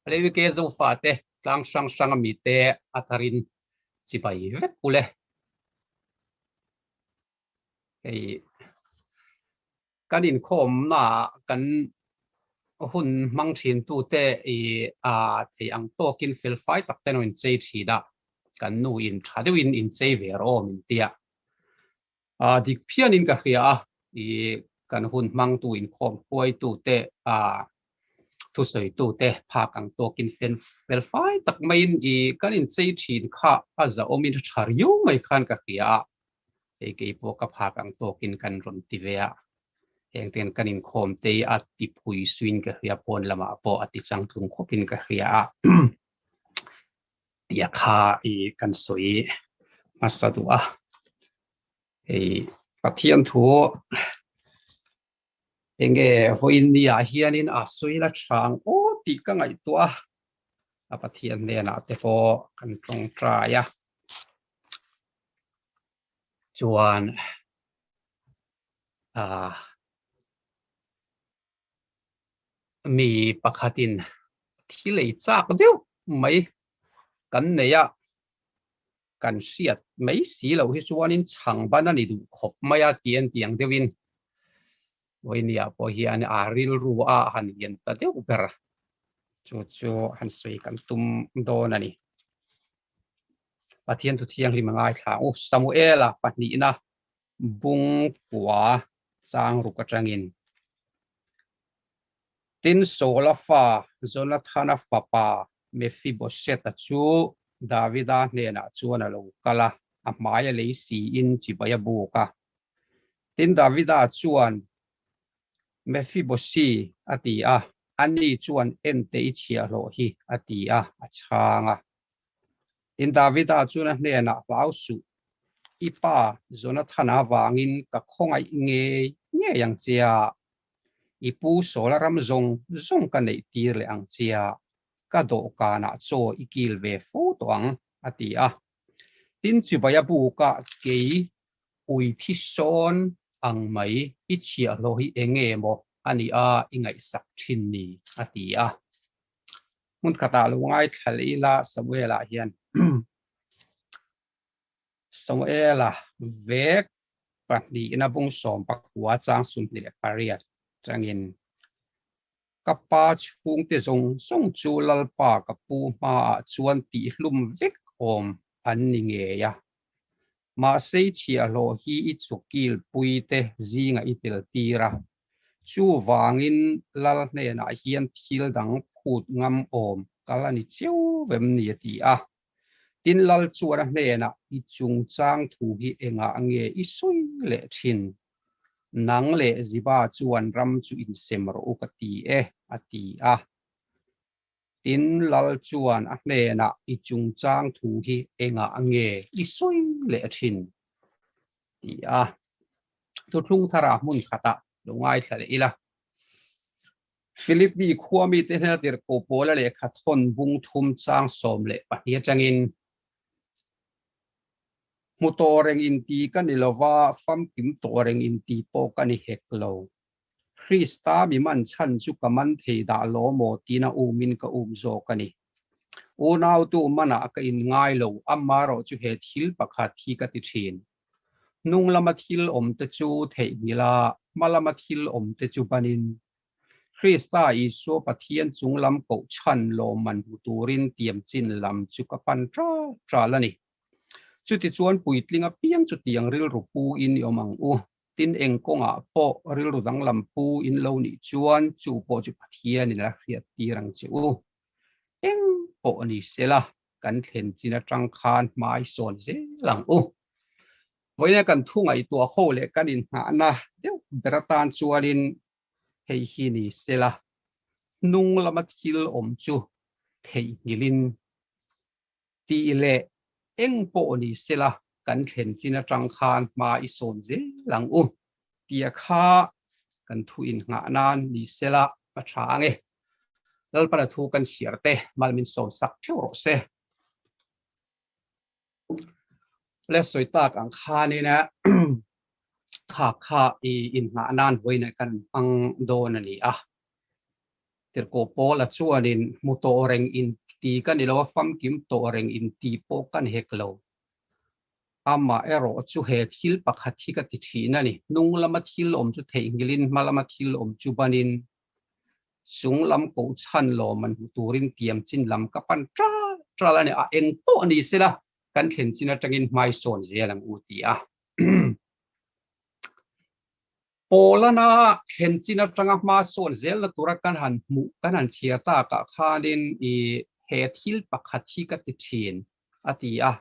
Hleuik e Zofa te tlang hrang hrang a mi te a thar in chibai vek u le. Hei kan in khawm na kan hun hmang thin tu te i a thei ang tawk in fel fai tak te no in chei thin a kan nu in tha deuh in in chei ve rawh min tia A dik phian in ka hria a, i kan hun hmangtu inkhawm khuaitu te, a thusawitu te phak ang tawk in fel felfai tak mai in i kan in chei thin kha a zahawm in tha riu mai khan ka hria a, hei kei pawh ka phak ang tawk in kan rawn ti ve a, heng ten kan inkhawm te i a ti phui suin ka hria pawn lamah pawh a ti changtlung khawp in ka hria a. ya kha i kan soi hmasa duh a ei pathian thu enge hoin ni a hianin a soila chang o ti ka ngai tu a a pathian nen a te po kan tong trai a chuan a mi pakhatin thi lei chak deuh mai kan nei a kan hriat mai si lo hi chuanin chhang ban a ni duh khawp mai a tih en tih ang deuhin Vawinia pawh hian a rilru a a han lian ta deuh ber chu chu han sawi kan tum dawn a ni Pathian thu thianghlim a ngaithla u Samuela pahnihna Bung kua changruk atangin tin Saula fa Jonathana fapa Mephibosheta chu Davida hnenah chuan a lo kal a, a hmai a lei siin chibai a buk a. Tin Davida chuan, Mephiboshi a ti a, ani chuan ente i chhiah hlawh hi a ti a, a chhang a. Tin Davida chuan a hnenah hlau suh, I pa Jonathana vangin ka khawngaih ngei ngei ang chia, i pu Saula ram zawng zawng ka neih tir leh ang chia, ka dawhkanah chaw i kil ve fo tawh ang, a ti a. Tin Chivaia buka kei ui thi sawn ang mai, i chhiahhlawh hi eng nge maw a nia i ngaihsak thin ni? a ti a. Hmun khatah lungai thlal ila Samuela hian Samuela vek pahnihna bung sawm pakua chang sum leh pariat tangin ka pa chhungte zawng zawng chu Lalpa ka pu hmaah chuan tihhlum vek awm an ni ngei a, mahse i chhiahhlawh hi i chukilpuite zingah i teltir a, Chuvangin Lal hnenah hian thil dang phut ngam awm kal a ni chiu vem ni a ti a. Tin Lal chuan a hnenah, I chungchang thu hi engah nge i sawi leh thin? Nang leh Ziba chuan ram chu insem rawh u ka ti e, a ti a. Tin, Lal chuan a hnenah, I chungchang thu hi engah nge i sawi leh thin? ti a. Thuthlung thara hmun khata lo ngaithla leh ila. Philip mi khua mite hnena dirhkoh pawla lehkha thawn bung thum chang sawm leh pahnih atangin, Hmu tawh reng inti ka ni lova, famkim tawh reng inti pawh ka ni hek lo. Krista mi man chhan chu ka man thei dah law maw tiin a um in ka um zawk a ni. Unautu manah ka in ngai lo, amah erawh chu he thil pakhat hi ka ti thin, Hnung lama thil awmte chu theih hmil a, hma lama thil awmte chu ban in. Krista Isua Pathian chung lam kohchhan lawm man hmu turin tiam chin lam chu ka pan ṭal ṭal a ni. Chutichuan puitling apiang chutiang rilru pu in i awm ang u. Tin eng kawngah pawh rilru danglam pu in lo nih chuan chu pawh chu Pathian in a hriat tir ang che u. Eng pawh ni sela kan thlen chin atang khan hmai sawn zel ang u. Vawiina kan thu ngaihtuah ho leh kan inhnahna deuh ber atan chuanin hei hi ni sela hnung lama thil awm chu theihnghilhin Tih leh, Eng pawh ni sela kan thlen chin atang khan hma i sawn zel ang u tia kha kan thu in nghah nan ni sela a tha ang e. Lalpana thu kan chhiar te mal min sawn sak theuh rawh se. Le sawi tak ang khan in khak kha i in nghah nan vawiin kan hmang dawn a ni a. Tirhkoh Paula chuanin, Hmu tawh reng in ti ka ni lo a, famkim tawh reng in ti pawh ka ni hek lo. Amah erawh chu he thil pakhat hi ka ti thin a ni, hnung lama thil awm chu theih ngilin hma lama thil awm chu banin chung lam kohchhan lawm an hmu turin tiam chin lam ka pan tral tral a ni. A eng pawh ni se la kan thlen chin atangin hmaisawn zel ang u ti a. Polana thlen chin atanga hmachhuan zelna tura kan han hmuh kan han chhiar takah khanin i he thil pakhat hi ka ti thin a ti a,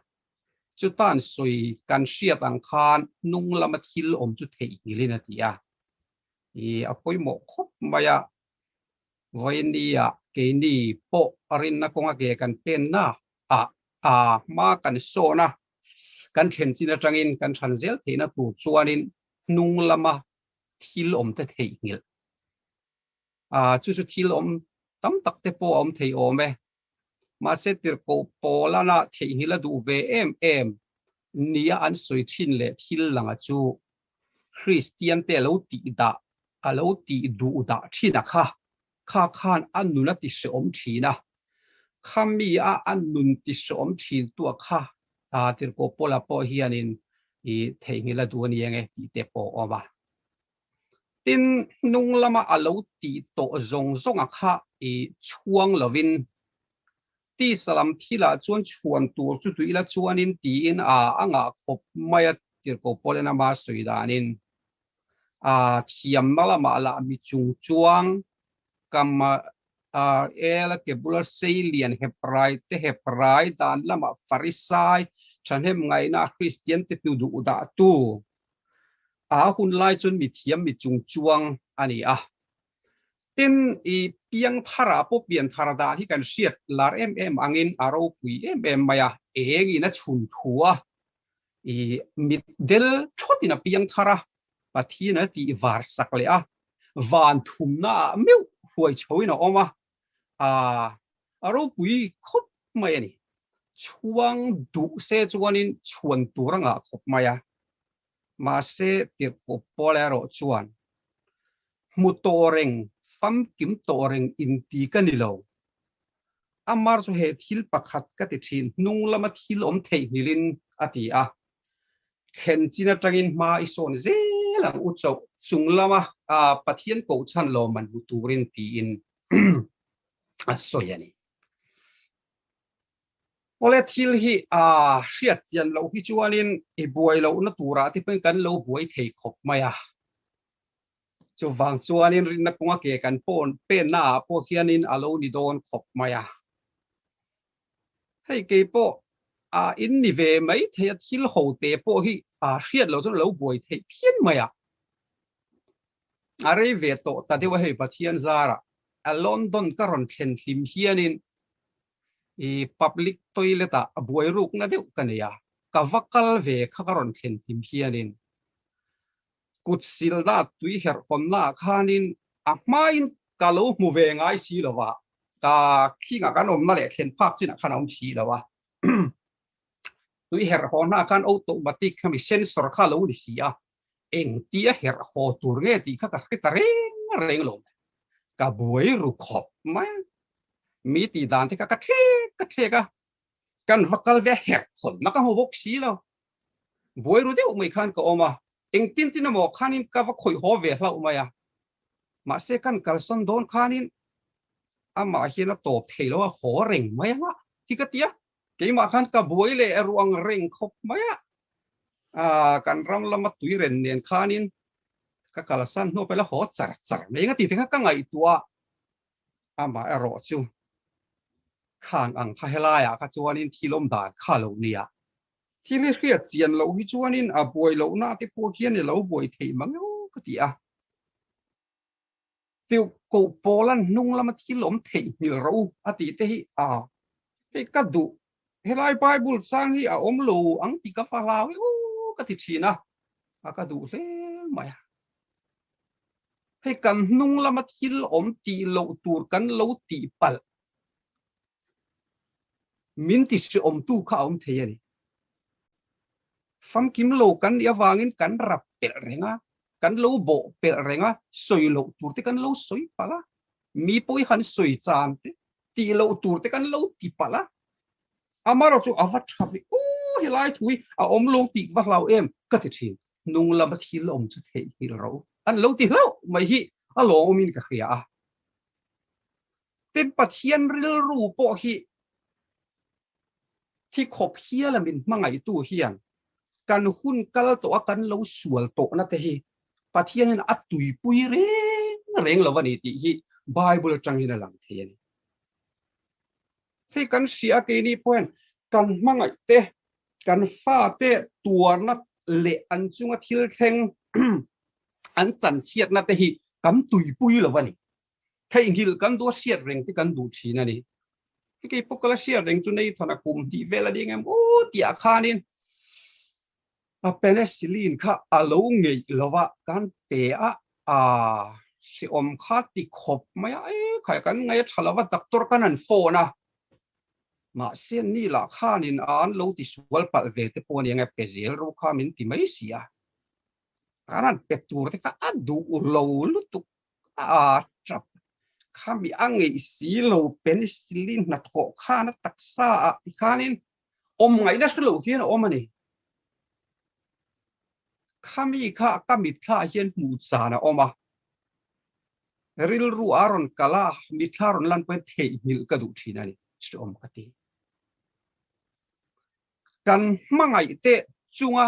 chutan sawi kan hriat ang khan hnung lama thil awm chu theihnghilhin a ti a, i a pawimawh khawp mai a, Vawini-a keini pawh rinna kawnga ke kan penna ah a hma kan sawn a, kan thlen chin atangin kan chhan zel theihna tur chuanin hnung lama thil awm te theih nghilh a, chu chu thil awm tam tak te pawh a awm thei awm e, mahse tirhkoh pawl ana theih nghilh a duh ve em em nia an sawi thin leh thil langa chu Kristian te a lo tih dah, a lo tih duh dah thinah kha Kha khan a nun a tisawm thin a, kha mi a a nun tisawm thin tu a kha ta tir ko pawl a pawh hianin i theihnghilh a duh a ni eng e tih te pawh a awm a. Tin, hnung lama a lo ti tawh zawng zawng a kha i chhuang lovin, Tisa lam thil ah chuan chhuan tur chu tui la chuan in tiin a a ngah khawp mai a tir ko pawl en a hma sawi danin. thiamna lamah lah mi chung chuang kama rl-a ke bula seilian Hebrai te, Hebrai dan lamah Farisai, thahnem ngaihna a Kristian te tu duh dahtu, a hun lai chuan mi thiam mi chung chuang a ni a. tin i piang thar ah pawh pian thar dan hi kan hriat lar em em ang in a ropui em em mai a, eng in a chhun thu a, i mit del thawt in a piang thar a, Pathian a tih var sak leh a, van thum na ah meuh hruai chho in a awm a, aa a ropui khawp mai a ni, chhuang duh se chuan in chhuan tur a ngah khawp mai a. Mahse, tirhkup pawl erawh chuan hmu tawh reng, famkim tawh reng inti ka ni lo. Amar chu he thil pakhat ka ti thin, hnung lama thil awm theihnghilh in a ti a, thlen chin atangin hma i sawn zel ang u chauh, chung lama Pathian kohchhan lawm man hmu turin tiin a sawi a ni. Kawle thil hi a hriatchian loh hi chuanin i buai lohna turah te pawhin kan lo buai thei khawp mai a. Chuvang chuanin rinna kawnga ke kan pawn pennaah pawh hianin a lo ni dawn khawp mai a. Hei keipawh a in ni ve mai thei a, thil ho te pawh hi a hriat loh chuan a lo buai theih phian mai a. A rei ve tawh ta deuh a hei Pathian zarah London ka rawn thlen hlim hianin i public toilet ah a buai rukna deuh ka nei a, ka va kal ve kha ka rawn thlen him hianin kut silna tui herh hawnna ah khanin a hmain ka lo hmu ve ngai si lo a, ka khing ah kan awmna leh thlen phak chin ah khan a awm si lo a, tui herh haw hna khan automatic hemi sensor kha lo ni si a, engtia herh haw tur nge tih kha ka hre ta reng reng lo. Ka buai ru khawp mai a, mi tih dan te kha ka thlek ka thlek a, kan va kal ve a herh phawn na ka hmu bawk si lo. Buai ru deuh mai khan ka awm a, engtin tin emaw khanin ka va khawih haw ve hlauh mai a, mahse kan kalsan dawn khanin amah hian a tawp thei lo a, haw reng mai a hlah hi ka ti a. Keimah khan ka buai leh a ruang reng khawp mai a, aa kan ram lama tui ren nen khanin ka kalsan hnu pawh la haw char char mai eng a tih te kha ka ngaihtuah a, amah erawh chu khang ang kha helaiah kha chuanin thil awm dan kha lo nia, thil hi hriat chian loh hi chuanin a buai lohna te pawh hian i lo buai theih mang emaw ka ti a. Tluk koh pawla hnung lama thil awm theih hmilh ro u a tih te hi a hei ka duh helai Bible chang hi a awm lo ang tih ka fa hlau e u ka ti thin a a ka duh hle mai a hei kan hnung lama thil awm tih loh tur kan lo tih palh min ti hriawmtu kha a awm thei a ni. Famkim lo kan nih avangin kan rap pelh reng a, kan lo bawh pelh reng a, sawi loh tur te kan lo sawi palh a, mi pawh i han sawi chan te, tih loh tur te kan lo ti palh a, amarawh chu a va tha ve, Ooh helai thu hi a awm lo tih va hlau em ka ti thin, nung lama thil awm chu theihnghilh ro an lo ti hlauh mai hi a lawmawmin ka hria a. tin Pathian rilru pawh hi hi khawp hial a min hmangaihtu hian kan hun kal tawh a kan lo sual tawhna te hi Pathianin a tuipui reng reng lo a ni tih hi Bible atangin a lang thei a ni. Hei kan hria a keini pawh hian kan hmangaih te, kan fate tuarna leh an chunga thil thleng an chanchhiatna te hi kan tuipui lo a ni. Theihnghilh kan duh a hriat reng te kan duh thin a ni. Hi keipawh kala hriat reng chu Nathan a kum tih vel a ding em aw tih ah khanin a penicillin kha a lo ngeih lova kan pe a aa hreawm kha ti khawp mai a e khai kan ngaih a tha lova doctor kan han phone a mahse ni lah khanin an lo ti sual palh ve te pawh a ni ang e pe zel ro kha min ti mai si a kan han pe tur te kha a duh lo lutuk a tap khami a ngeih si lo penicillin hnathawh khan a taksa ah ti khanin awm ngaih na hre loh hian a awm a ni. Khami kha ka mitthla hian hmuh chan a awm a, rilru a rawn kal a, mitthla a rawn lan pawh hian theihnghilh ka duh thin a ni, chu awm ka ti. Kan hmangaih te chunga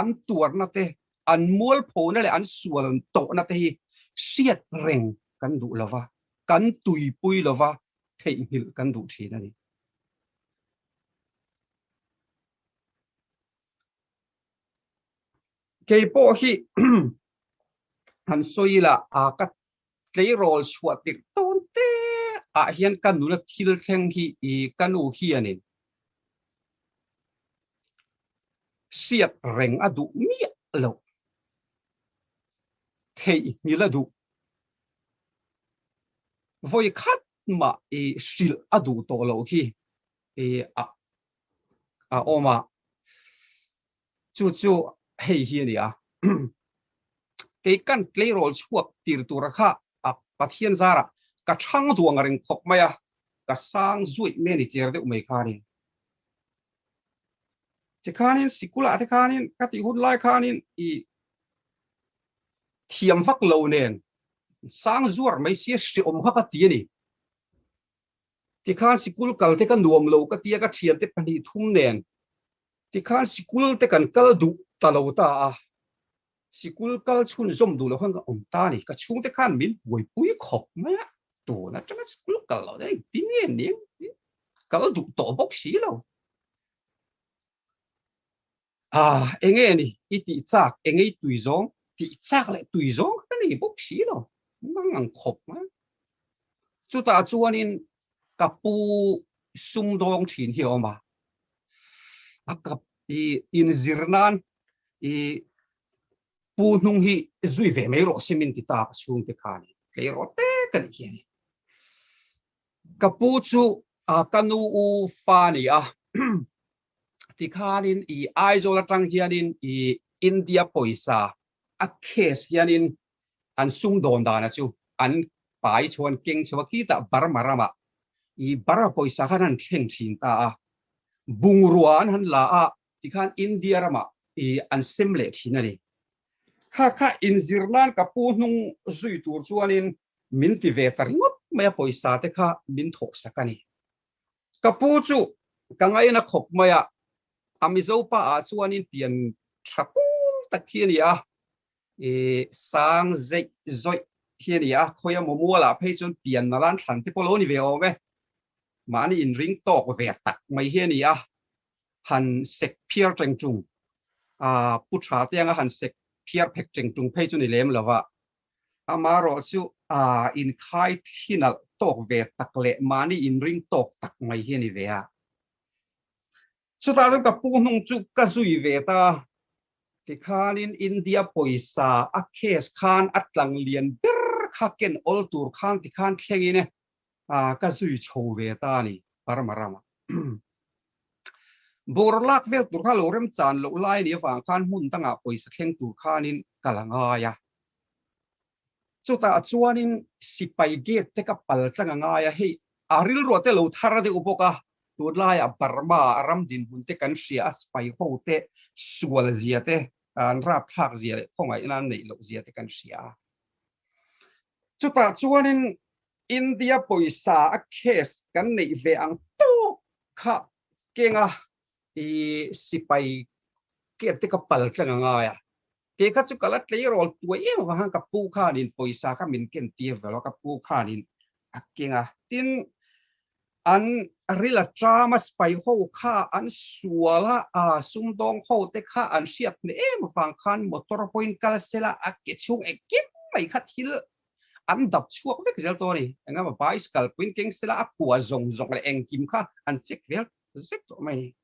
an tuarna te, an mualphona leh an sual tawhna te hi hriat reng kan duh lo va, kan tuipui lo va, theihnghilh kan duh thin a ni. Kei pawh hi han sawi ila aa ka Tleirawl chhuah tirh tawn te ah hian ka nuna thil thleng hi i ka nu hian in siat reng a duh miah lo, theihnghilh a duh, vawi khat mah i hrilh a duh tawh loh hi a awm a, Chu chu hei hi a ni a, Keikan tleirawl chhuak tir tura kha a Pathian zara ka chhang duang a reng khawp mai a, ka sang zuaih me ni cher deuh mai khanin. Tikhanin sikula te khanin ka tih hun lai khanin i thiam vak lo nen sang zuar mai sia hreawm kha ka ti a ni. Tikhan sikul kalte ka nuam lo ka tia ka thiante pahnih thum nen tikhan sikul te kan kal duh ta lo ta a, sikul kal chhun zawm duh lo khan ka awm ta a ni. Ka chhungte khan min buaipui khawp mai a, tun atanga sikul kal lo daih engtin nge nin kal duh tawh bawk si lo. Ah, enge a ni? I tih chak e ngei tui zawng? Tih chak leh tui zawng ka nei bawk si lo, mang ang khawp mai. Chutah chuanin ka pu sumdawng thin hi a awm a, a kap i inzir nan i pu hnung hi zui ve mai rawh si min ti ta ka chhungte khan i tlei rawh tek a nih hi a ni. Ka pu chu ka nu u fa a ni a, tikhanin i Aizawl atang hianin i India pawisa a case hianin an sum dawn dana chu an pai chho an keng chho a khitah Burma rama i Burma pawisa khan han thleng thin ta a, bungrua an han la a tikhan India rama i an sem leh thin a ni. Kha kha inzir nan ka pu hnung zui tur chuanin min ti ve ta ringawt mai a pawisa te kha min thawhsak a ni. Ka pu chu ka ngain a khawp mai a, a Mizo pa ah chuanin pian tha pul tak khi a ni a, ih sang zeih zawih khi a ni a, khawi a Momual ah phei chuan pian nal an thlan te pawh lo ni ve awm e, mahni inring tawk ve tak mai hi a ni a, han sek phiar teng tung, aa pu tha te anga han sek phiar phek teng tung phei chu ni lem lova. Amaherawhchu aa inkhai thlinalh tawk ve tak leh mahni inring tawk tak mai hi a ni ve a. Chutah chuan ka puhnung chu ka zui ve ta. Tikhanin India pawisa a case khan a tlanglian ber kha ken awl tur khan tikhan thlengin ah ka zui chho ve ta a ni Burma ram ah bawr lak vel tur kha lo rem chan loh lai a nih avang khan hmun dang ah pawisa thleng tur khan in ka la ngai a chutah chuan in sipai gate te ka pal tlang a ngai a hei a rilruah te lo thar a deuh bawk a tun lai ah Burma ah ram dinhmun te kan hria a sipai ho te sual zia te an rap thlak zia leh khawngaih nan neih loh zia te kan hria a Chutah chuanin India pawisa a case kan neih ve ang tawk kha kenga i sipai kep te ka pal thleng a ngai a, ke kha chu ka la tleirawl tuai em avang hian ka pu khanin pawisa kha min ken tir ve lo a, ka pu khanin a kenga tin an rila ṭam a spai ho kha an sual a, aa sumdawng ho te kha an hriat hne em avang khan motor pawhin kal sela a ke chhung engkim mai kha thil an dap chhuak vek zel tawh a ni. Engemaw pai is kal pawhin keng sela a kua zawng zawng leh engkim kha an check vel tawh. zek tawh mai.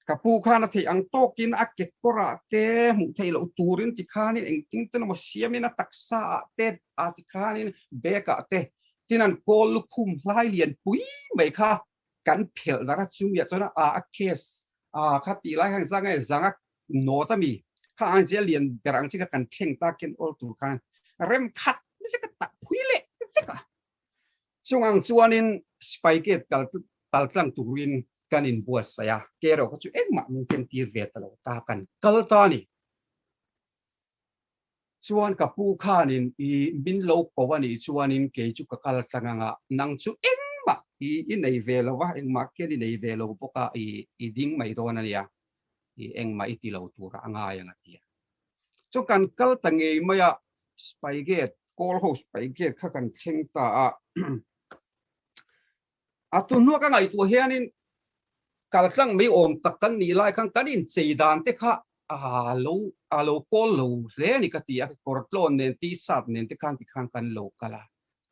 Ka pu khan a theih ang tawkin a kekawrah te hmuh theih loh turin ti khanin engtin te lawma siamin a taksa ah te a ti khanin bag ah te tin an kawl lukhum hlai lian pui mai kha kan phelh darh a chumi ah chuan a ah a case ah kha tih lai kha engzah nge zang a nawt ami kha ang zia lian ber ang chi kha kan thleng takin awltu khan remkhat vek a tak phui leh vek a. Chungang chuanin Spycade kal kal tlang turin kan in buatsaih a, keroka chu engmah min timtir ve ta lo ta kan kal ta a ni. Chuan ka pu khanin i min lo ko a nih chuanin kei chu ka kal tlang ang a, nang chu engmah i i nei ve lo va, engmah khian i nei ve lo bawk a, i i ding mai dawn a nia. i engmah i ti lo tura a ngai ang a ti a. Chu kan kal ta ngei mai a, Spygate, Call ho Spygate kha kan thleng ta a. A tunhnuah ka ngaihtuah hianin kaltlang mai awm tak kan nih lai khan kan inchei dan te kha a lo call lo hle a ni ka ti a, kekawr tlawn nen T-shirt nen te khan tikhan kan lo kal a,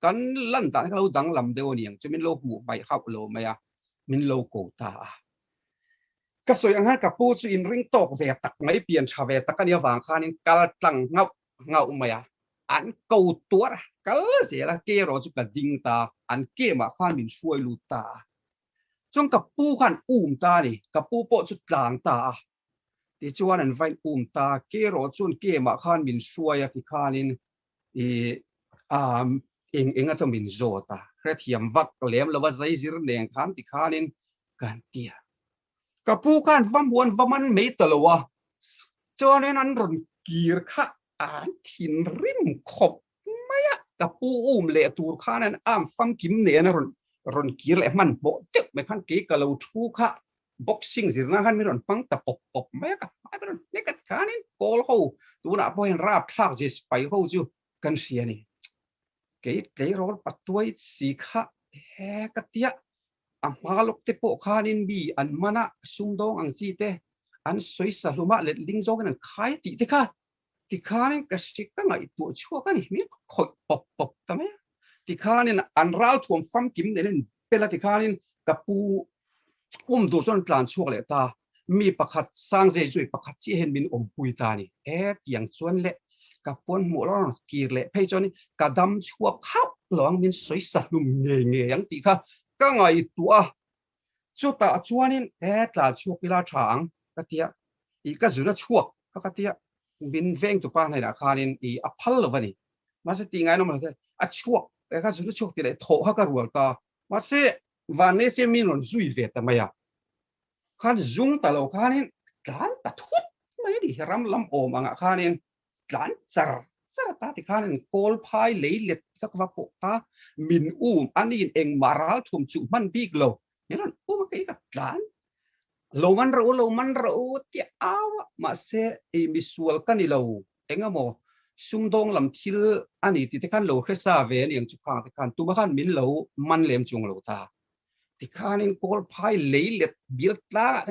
kan lan dan hi ka lo danglam deuh a ni ang chu min lo hmuh hmaih hauh lo mai a, min lo ko ta a. Ka sawi anghan ka pu chu inring tawk ve tak mai, pian tha ve tak a ni avang khanin kal tlang nghauh nghauh mai a, an ko tuar kal zel a, kei erawh chu ka ding ta, an kêm ah khan min hruai lut ta a, chuan ka pu khan um ta a ni, ka pu pawh chu tlang ta a, tichuan an vain um ta, kei erawh chuan kêm ah khan min hruai a ti khanin I a eng enga chu min zawt a, hrethiam vak lem lova zeizir neng khan ti khanin kan ti a. Ka pu khan va muan va man mai ta lo a, chuanin an rawn kir kha an thin rim khawp mai a, ka pu um leh tur khan an am famkim nen a rawn rawn kir leh hman hmawh deuh mai khan kei ka lo thu kha Boxing zirna khan min rawn hmang ta pawp pawp mai a, ka hmai ber ber a khanin Pawl ho tunah pawh hian rap thlak zir spai ho chu kan hria a ni. Kei tleirawl patuai si kha he ka tia a hma lawk te pawh khanin mi an man a sumdawng ang chi te an sawisa hlum a letling zawngin an khai tih te kha tikhanin ka hriat ka ngaihtuah chhuak a ni hming ka khawih pawp pawp ta mai a, tikhanin an ral thuam fam kim nen in pel a tikhanin ka pu awm tur chuan an tlan chhuak leh ta mi pakhat Sangzei Joy pakhat chiah hian min awm pui ta a ni e tiang chuan le ka puan hmuh lo ang kir leh phei chuan ka dam chhuak hauh lo ang min sawi sa hlum ngei ngei ang tih kha ka ngaihtuah a Chutah chuanin he tlan chhuak ila tha ang ka tia, i ka zun a chhuak a ka tia, min veng tu pa hnenah khanin i a phal lo va ni, mahse tih ngain awm lo hian a chhuak e ka zun a chhuak ti leh thawh kha ka rual ta, mahse vanlei se min rawn zui ve ta mai a, khan zung ta lo khanin tlan ta thut mai a ni, ram lam awm angah khanin tlan char char ta ti khan in kawl phai lei let ka va pawh ta min um a ni in engmah ral thum chu hman bik lo ni ran um a kei ka tlan lo man ro lo man ro tia au a mahse i misual ka ni lo engemaw sumdawng lam thil a ni tih te khan lo hre sa ve a ni ang chu khang te khan tuma khan min lo man lem chung lo ta ti khan in kawl phai lei let bial tlang ah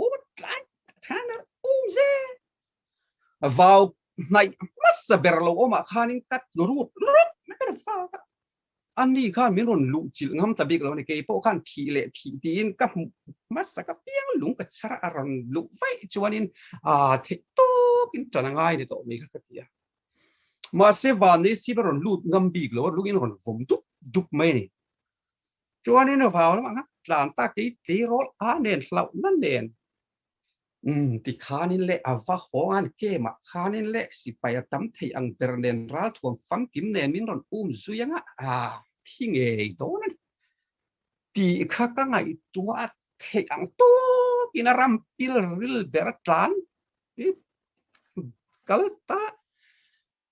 um tlan than um zet vau hnaih hmasa ber lo awmah khanin ka rut rut mai ka ru fak a, ani khan min rawn luh chilh ngam ta bik lo a ni, kei pawh khan thih leh thih tiin ka hmuh hmasa ka piang lung ka chhar a, a rawn luh vaih chuanin aaa theih tawkin tan a ngai ni tawh mai kha ka ti a, mahse van hi sip a rawn lut ngam bik lo a, lungin a rawn vawm dup dup mai a ni, chuanin vau lamah khan tlan ta kei tleirawl a nen hlauhna nen Ti khanin leh a va hawnga'n kema khanin leh sipai a tam thei ang ber nen ralthuam famkim nenin rawn um zui anga a thi ngei dawn a ni tih kha ka ngaihtuah a theih ang tawkin a ram pilril ber a tlan. Kalta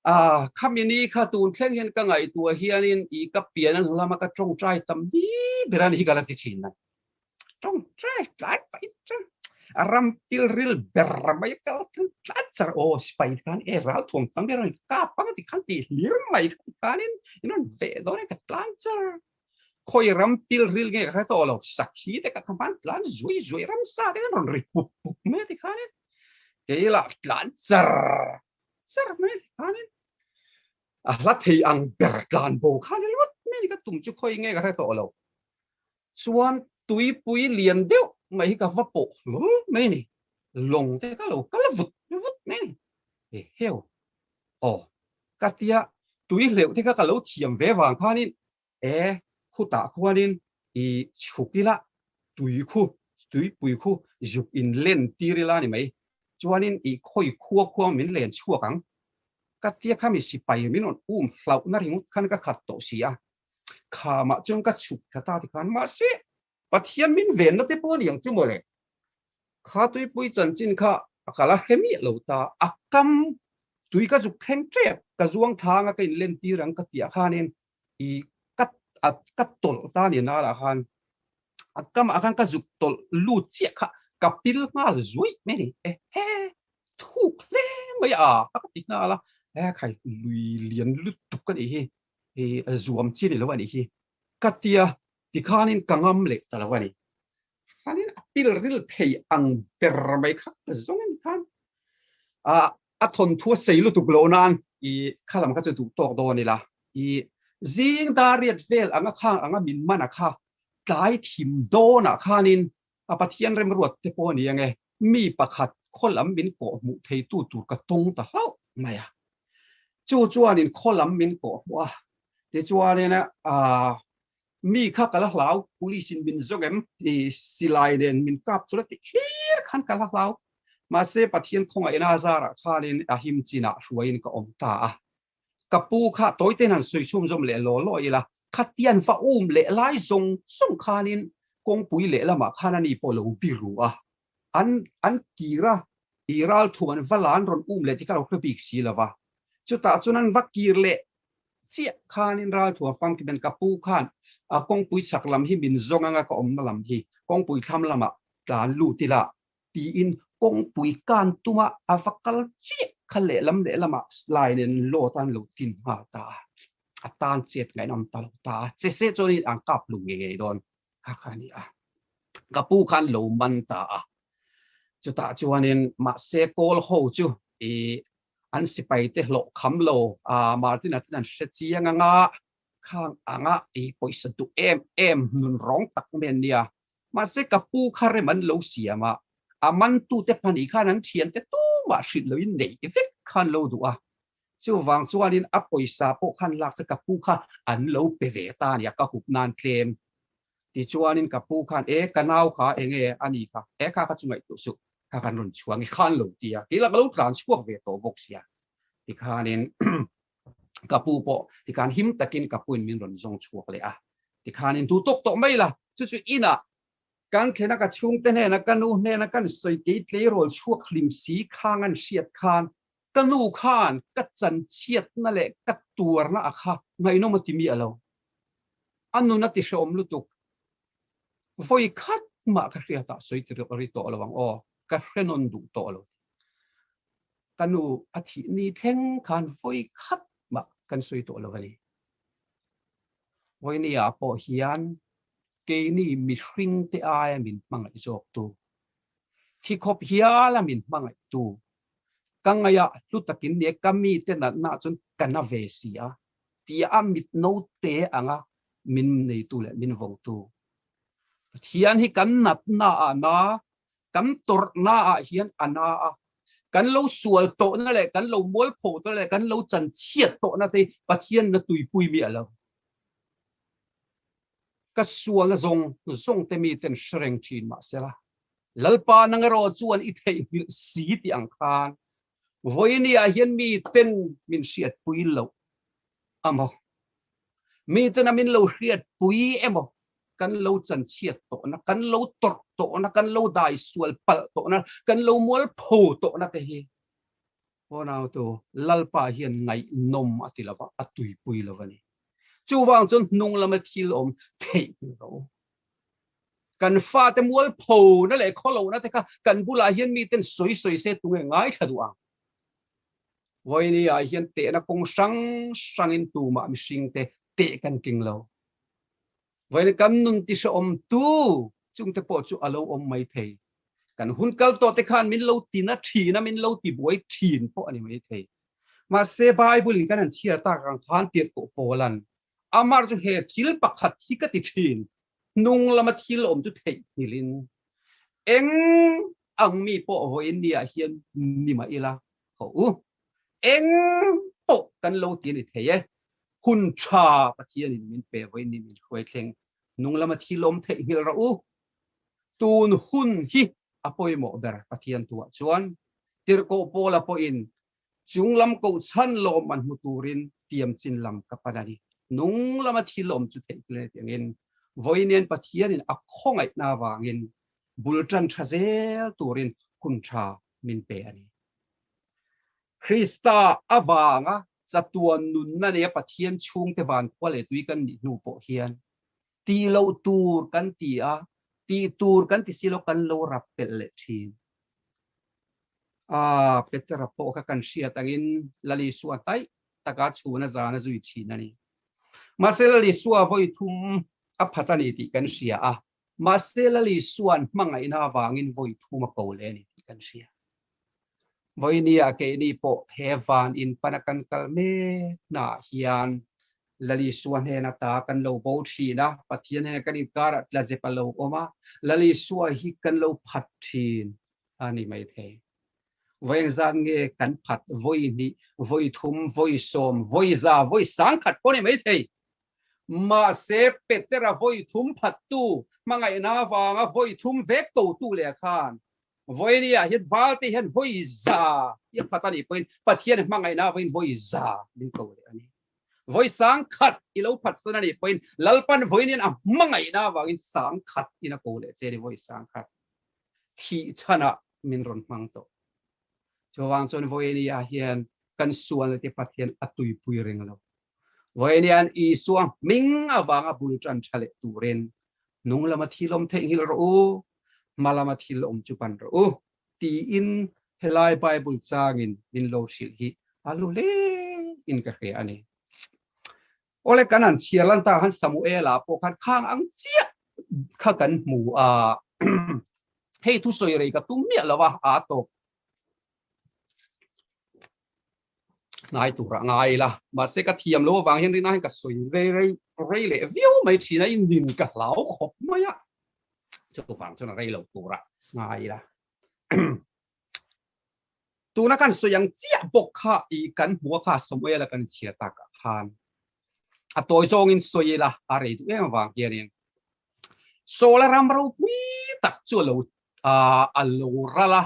A, khami ni kha tun thleng hian ka ngaihtuah hianin i ka pian a hnulama ka tawngtai tam ni ber a ni hi ka la ti thin a. Tawngtai tlai pai chuan a ram pilril ber mai kal khan tlat char aw sipai khan e ral thuam tam hian rawn kap ang ti khan tih hlir mai khan khanin in rawn ve dawn e ka tlan char. Khawi ram pilril nge ka hre tawh lo, sakhi te ka tha hman tlan zuai zuai ramsa te khan rawn ri pup pup mai a ti khanin kei lah tlan char. ser mai khanin a hla thei ang ber tlan bo khan lut mi ni ka tum chu khoi nge ka hre tawh lo chuan tui pui lian deuh mai hi ka va pawh hlur mai ni long te ka lo kal vut vut mai ni e heo o ka tia tui hleuh te kha ka lo thiam ve vang khanin Te khutah khuanin i chhuk ila, tui khu, tuipui khu zuk in len tir ila ni mai. Chuanin i khawi khua khuang min len chhuak ang. Ka tia kha mi sipai min rawn um hlauhna ringawt khan ka khat tawh si a. Khamah chuan ka chhuk thla ta tikhan mahse, Pathian min venna te pawh a ni ang chu mawle. Kha tuipui chanchin kha a ka la hre miah lo ta. A kam, tui ka zuk thleng tep, ka zuangthlanga ka inlen tir ang ka tiah khanin i cut a cut tawlh ta nen a lah khan a kam ah khan ka zuk tawlh lut chiah kha ka pil nghal zuaih mai ni e he thuk hle mai a a ka ti nghal a hekhai lui lian lutuk ka nih hi i zuam chian ilo a nih hi ka tia ti khan in ka ngam leh ta lo a ni khan in a pil ril thei ang ber mai kha ka zawng a ni khan a A thawnthuaa sei lutuk loh nan i kha lam kha chu duh tawk dawn ila i zing dariat vel anga kha anga min man a kha tlai thim dawnah khanin a Pathian remruat te pawh a ni ange mi pakhat khaw lam min kawh hmuh theitu tur ka tawng ta hlauh mai a. Chu chuanin khaw lam min kawh hmuh a tichuanin a Mi kha ka la hlau, police in min zawk em? Hei silai nen min kap tur a tih hlir khan ka la hlau. Mahse Pathian kawng a en a zar ah khanin a him chin ah hruai in ka awm ta a. Ka pu kha tawite han sawi chhum zawm leh law law ila, khatian va um leh lai zawng zawng khanin kawngpui lehlam ah khan ani pawh a lo biru a. An an kir a, i ralthum an va la an rawn um leh tih ka lo hre bik si lova, chutah chuan an va kir leh chiah khanin ralthum a fam kiben ka pu khan a kawngpui chhak lam hi min zawng anga ka awmna lam hi kawngpui thlam lamah tlan lut ila tiin kawngpui kan tuma a va kal chiah kha lehlam lehlamah slai nen lawt a an lo tin nghal ta a, a tan chet ngainawm ta lo ta a, che se chuan in an kap lu ngei ngei dawn. kha kha ni a ka pu khan lo man ta a chuta chuanin mahse kawl ho chu i an sipai te hlawh kham lo a martin a tin an hre chiang anga khang anga i poisa duh em em nun rong tak men nia mahse ka pu kha rem an lo siama a man tu te pani khan an thian te tu ma hrilh lo in nei vek khan lo duh a Chuvang chuanin a pawisa pawh khan lak che ka pu kha an lo pe ve ta a nia ka hup nan tlem. Tichuanin ka pu khan e ka nau kha enge a ni kha e kha kha chu ngaihtuah suh kha kan rawn chhuak nge khan lo ti a keilah ka lo tlan chhuak ve tawh bawk sia tikhanin ka pu pawh tikhan him takin ka puin min rawn zawng chhuak leh a tikhanin duh tawk tawh mai la chu chu inah kan thlena ka chhungte hnena ka nu hnena kan sawi kei tleirawl chhuak hlim si khang an hriat khan Ka nu khan ka chanchhiatna leh ka tuarna a kha ngaihnawm a timi a lo. A nun a tihrehawm lutuk, Vawi khat mah ka hria tah sawi ti ri tawh a lo ang aw, ka hrenawn duh tawh a lo ti. Ka nu a thih ni thleng khan vawi khat mah kan sawi tawh lo a ni. Vawinia pawh hian keini mihringte aia min hmangaih zawktu, thikhawp hiala min hmangaihtu Ka ngaih a, hlu takin nia ka mite natna chuan ka na ve si a, tia a mit naute anga min neitu leh min vawngtu Pathian hi kan natna ah na, kan tawrhna ah hian a na a, kan lo sual tawhna leh kan lo mualpho tawhna leh kan lo chanchhiat tawhna te hi Pathian na tuipui mi a lo. Ka sualna zawng zawngte miten hre reng thin mahse, Lalpa nang erawh chuan i theihnghilh si tih ang khan vawiini ah hian mi ten min hriatpui loh a maw? Mi tena min lo hriatpui emaw kan lo chanchhiat tawhna, kan lo tawrh tawhna, kan lo daisual palh tawhna, kan lo mualpho tawhna te hi Pawnautu Lalpa hian ngaihnawm a ti lo va, a tuipui lo a ni. Chuvang chuan hnunglam a thilawm theihnghilh loh. Kan fate mualpho na leh khaw lohna te kha kan bulah hian mi ten sawi sawi se tunge ngai thla duh ang. Vawiini ah hian tehna kawng hrang hrang in tumah mihring te teh kan tling lo. Vawiin kan nun ti hrehawm tu chung te pawh chu a lo awm mai thei. Kan hun kal tawh te khan min lo ti na thin a, min lo ti buai thin pawh a ni mai thei. Mahse Bible in kan han chhiar tak ang khan tirhkoh pawl an Amar chu he thil pakhat hi ka ti thin, hnung lama thil awm chu theihnghilh in eng ang mi pawh vawiin ni ah hian ni mah ila hawh u, eng pawh kan lo ti a ni thei e, hun tha Pathian in min pe vawiin ni min hruai thleng, hnung lama thil awm theihnghilh rawh u, tun hun hi a pawimawh ber Pathian tu ah chuan tirhkoh pawl a pawh in Chung lam kohchhan lawm an hmu turin tiam chin lam ka pan a ni. Nung lama thil awm chu theih tel a ni tih angin vawi nen Pathianin a khawngaihna avangin bul tan tha zel turin hun tha min pe a ni. Krista avanga chatuan nunna nen Pathian chhungte vankua leh tui kan nih hnu pawh hian ti lo tur kan ti a, ti tur kan ti si lo kan lo rap pelh leh thin. Aaa Petera pawh kha kan hriat angin Lalisua taih taka chhun a zana zui thin a ni. Mahse Lalisua vawi thum a phat a ni tih kan hria a, mahse Lalisuan hmangaihna avangin vawi thum a ko leh a ni tih kan hria. Vawinia keini pawh he van in pan a kan kal mek hnah hian Lalisua hnen ata kan lo bo thin a, Pathian he kan inkarah tlazep a lo awm a, Lalisua hi kan lo phat thin a ni maithei. Vawiin zan nge kan phat, vawi hnih, vawi thum, vawi sawm, vawi za, vawi sang khat pawh a ni maithei. Mahse, Petera vawi thum phattu, hmangaihna avanga vawi thum vek kotu leh khan, vawi nia hian valte hian vawi za i a phat a nih pawhin Pathian hmangaihna vawiin vawi za ding ko leh a ni. vawi sang khat i lo phatsan a nih pawhin Lalpan vawiin a hmangaihna avangin sang khat in a ko leh che ni, vawi sang khat thih chhanah min rawn hmang tawh. Chuvang chuan vawinia hian kan Sualnute Pathian a tuipui reng lo. Vawiinian Isua hming avanga bul tan tha leh turin hnung lama thil awm theih nghilh rawh u, hma lama thil awm chu pan rawh u. tiin helai Bible changin min lo hrilh hi a lu lein ka hria a ni. Awle kan an chhiar lan ta khan Samuela pawh khan khang ang chiah kha kan hmu a, hei thusawi rei ka tum miah lo a, aa tawp. hnai tura ngai ila mahse ka thiam lo avang hian rina hian ka sawi rei rei rei leh viau mai thin a inin ka hlau khawp mai a chuvang chuan rei lo tura ngai ila tuna kan sawi ang chiah bawk kha i kan hmua kha sawmawih ala kan chhiar ta ka khan a tawi zawng in sawi ila a rei duh em avang hian in sola ram ropui tak chu lo a lo rala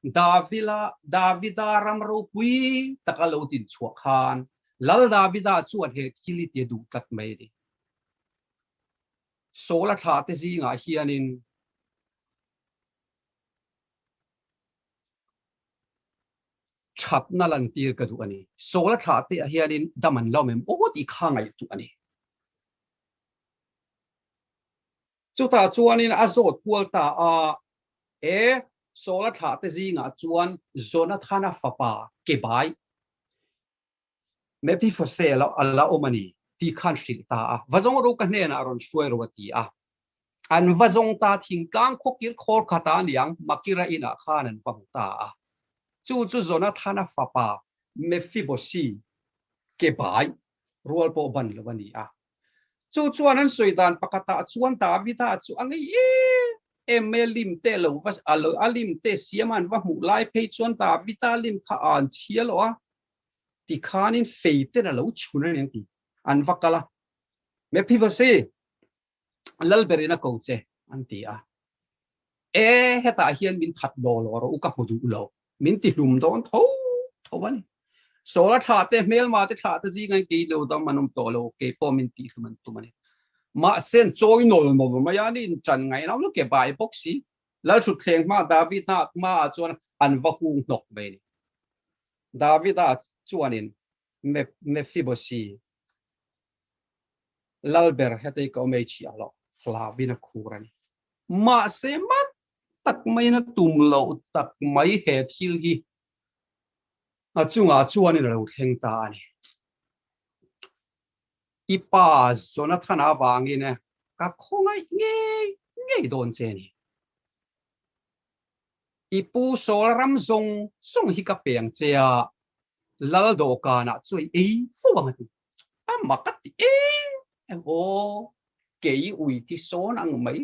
Davida, Davida ram ropui taka lo tinchhuah khan Lal Davida chuan he thil i tia duh tlat mai ni. Saula thlah te zingah hianin thatna lan tir ka duh a ni. Saula thlah te ah hianin dam an lawm em aw tih kha ngaih duh a ni. Chutah chuanin a zawt kual ta a, He Saula thlahte zingah chuan Jonathana fapa kebai Mephiphose lo a la awm a ni tih khan hrilh ta a, va zawng ru ka hnenah a rawn hruai ro a ti a. An va zawng ta thingtlang khuakir khawr khata niang Makira inah khan an va hmu ta a. Chu chu Jonathana fapa Mephibose kebai rual pawh ban lo a ni a. chu chuan an sawi dan pakhatah chuan Davida chu a ngei em mai a lim teh lo va a lo a lim teh siam a an va hmuh lai phei chuan Davida lim kha a an chhia lo a ti khanin feiten a lo chhun a nen ti an va kal a Mephibosi lal berin a ko che an ti a e hetah hian min that daw lo a rawh u ka hmu duh lo Min ti hlum dawn tho tho a ni. Sawla thla te, hmelma te thla te zinga in kei lo dam an awm tawh lo, kei pawh min ti hlum an tum a ni. Mahse, an chawi nawl nawl mai a, nihin tan ngai nau lo ke bai bawk si. Lal thutthleng hma David hna hmaah chuan an va hung hnawk mai a ni. David a chuanin, Mephiboshi, lal ber hetei ka awm ei chhiah hlawh, Flavin a khur a ni. Mahse, mak tak mai na tum lo tak mai he thil hi a chungah chuan in lo thleng ta a ni. I pa Jonathan avangin ka khawngaih ngei ngei dawn che ni. I pu Saul ram zawng zawng hi ka peng che a, lal dawhkanah chu i ei fo ang a ti. Amah ka ti e, aw kei ui tisawn ang mai.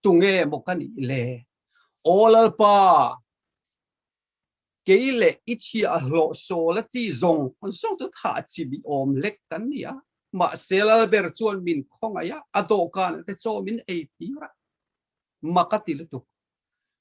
Tunge maw ka nih le? Aw Lalpa, kei leh i chhia a hlawh sawl a chi zawng zawng chu tha a chi ni awm lek kan ni a, mahse Lalber chuan min khawngaih a, a dawhkan ah te chawm in ei tir a, mak a ti lutuk.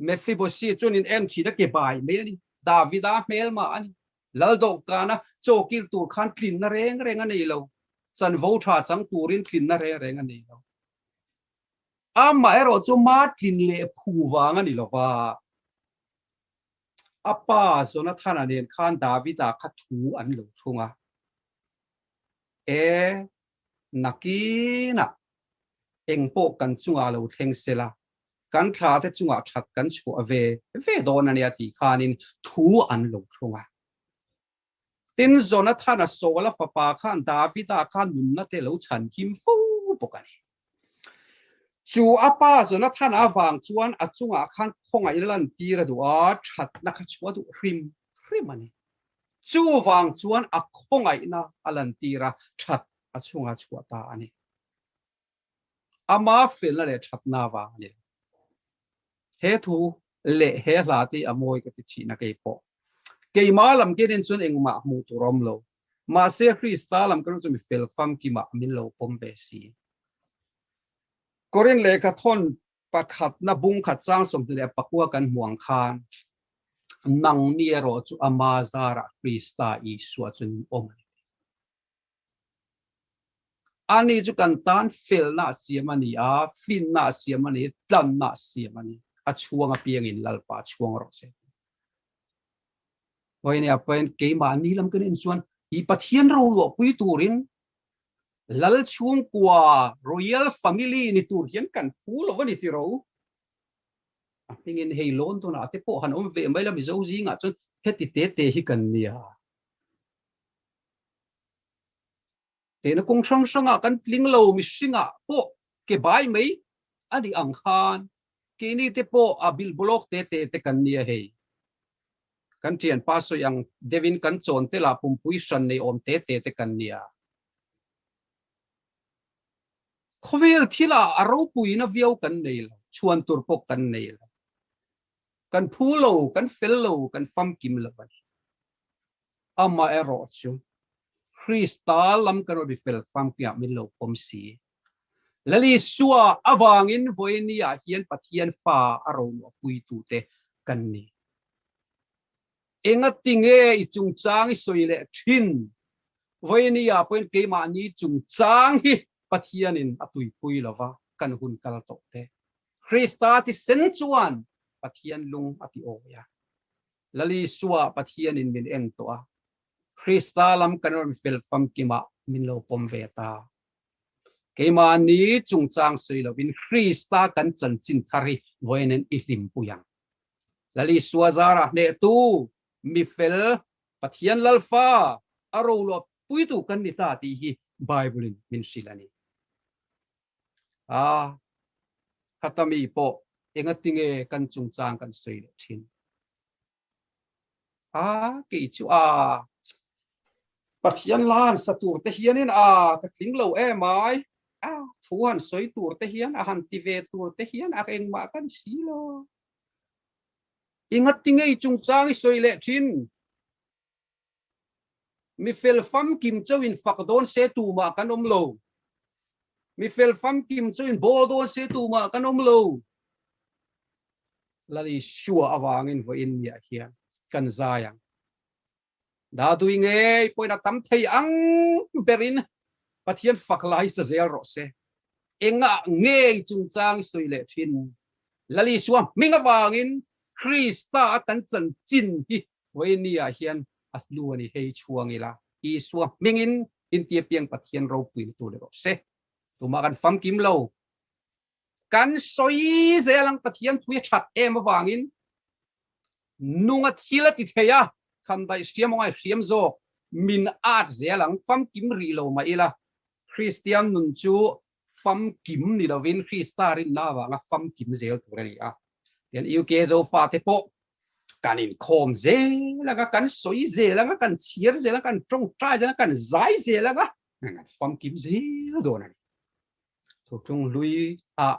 Mephibosheth chuan in en thin a, ke bai mai a ni, Davida hmelmah a ni, lal dawh kana chawkil tur khan tlinna reng reng a nei lo, chanvo tha chang turin tlinna reng reng a nei lo, amaherawh chu ma tlin leh phu vang a ni lova, a pa Jonathana nen khan Davida kha thu an lo thlung a, e nakinah engpawh kan chungah lo thleng sela, kan thlate chungah that kan chhuah ve ve dawn a nia tih khanin thu an lo thlawng a. Tin, Jonathana Saula fapa khan Davida kha nunna te lo chhan him fo bawk a ni. Chu a pa Jonathana avang chuan a chungah khan khawngaih la lantir a duh a, thatna kha chhuah duh hrim hrim a ni. Chuvang chuan a khawngaihna a lantir a, that a chhunga chhuah ta a ni. Amah felna leh thatna avang a ni lo. He thu leh he hla te a mawi ka ti thihna kei pawh keimah lam ke nen chuan engmah hmuh tur a awm lo. Mahse Krista lam ka ru chu mi fel famkimah min lo pawm ve si. Korin lehkha thawn pakhat na bung khat chang sawmhnih leh pakua kan hmuang khan nangni erawh chu ama zarah Krista Isua chu an awm a ni teh. Ani chu kan tan felnaa siam a ni a, fimnaa siam a ni, tlannaa siam a ni. A chhuang apiangin Lalpa chhuang rawh se. Hawi nia pahin keimahni lam kan en chuan i Pathian ro luahpui turin Lal chhungkua Royal Family ni tur hian kan phu lo a ni ti ro. A hmingin hei London-ah a te pawh han awm ve mai la mizo zingah chuan heti tete hi kan nia. He lukhum hrang hranga kan tling lo mihringah pawh ke bai mai a nih ang khan keini te pawh a bilbawlawk te te te kan nia hei. Kan ṭhianpa sawi ang deuhin kan chawnte lah pumpui hran nei awm te te te kan nia. Khawvel thila a ropuina viau kan nei lo, chhuan tur pawh kan nei lo. Kan phu lo, kan fel lo, kan famkim lo a ni. Amah erawh chu Krista lam ka rawi fel fang piah min lo pawm si e. Lalisua avangin Voyniah hian Pathian fa a ronuah puitute kan ni. Engatinge i chungchang i sawi leh thin? Voyniah pawhin keimahni chungchang hi Pathianin a tuipui lova kan hun kal tawh teh. Krista thisen chuan Pathian lung a ti awi a. Lali suah Pathianin min en tawh a, Krista lam kan rawn fel famkim ah min lo pawm ve ta. Keimah ni chungchang sawi lovin Krista kan chanchin thar hi vawiin i hlimpui ang. Lali suah zar a hnehtu, mi fel, Pathian Lalfa a roluah puitu kan ni ta tih hi Bible-in min hrilh a ni. A Khata mi pawh enga tinge kan chungchang kan sawi leh thin. A kei chu a Pathian la han sa tur te hianin a ka tling lo em ai, a thu han sawi tur te hian a han ti ve tur te hian a engmah ka ni si lo. I ngati ngei chungchang i sawi leh thin. Mi fel famkim chauhin fak dawn se tumah kan awm lo. Mi fel famkim chauhin bawl dawn se tumah kan awm lo. Lal Isua avangin vawiin mi ah hian kan zai ang. Dadui ngei pawhin a tam thei ang berin Pathian fak lai sa zel rawh se. Engah ngei chungchang i sawi leh thin? Lal Isua hming avangin Krista a kan chanchin hi Vainia hian a hnu a ni hei chhuang ila, Isua hmingin intiapiang Pathian ropuiin tu leh rawh se. Tumah kan famkim lo. Kan sawi zel ang Pathian thui a that em avangin nunga thil a ti thei a, khan daih hria maw ngai hriam zawk min at zel ang, famkim rih lo mah ila. Kristian nun chu famkim ni lovin Krista rinna avanga famkim zel tur a ni a. Tichuan UK Zofa te pawh kan inkhawm zel anga, kan sawi zel anga, kan chhiar zel anga, kan tawngtai zel anga, kan zai zel anga famkim zel dawn a ni. Thuthlung hlui a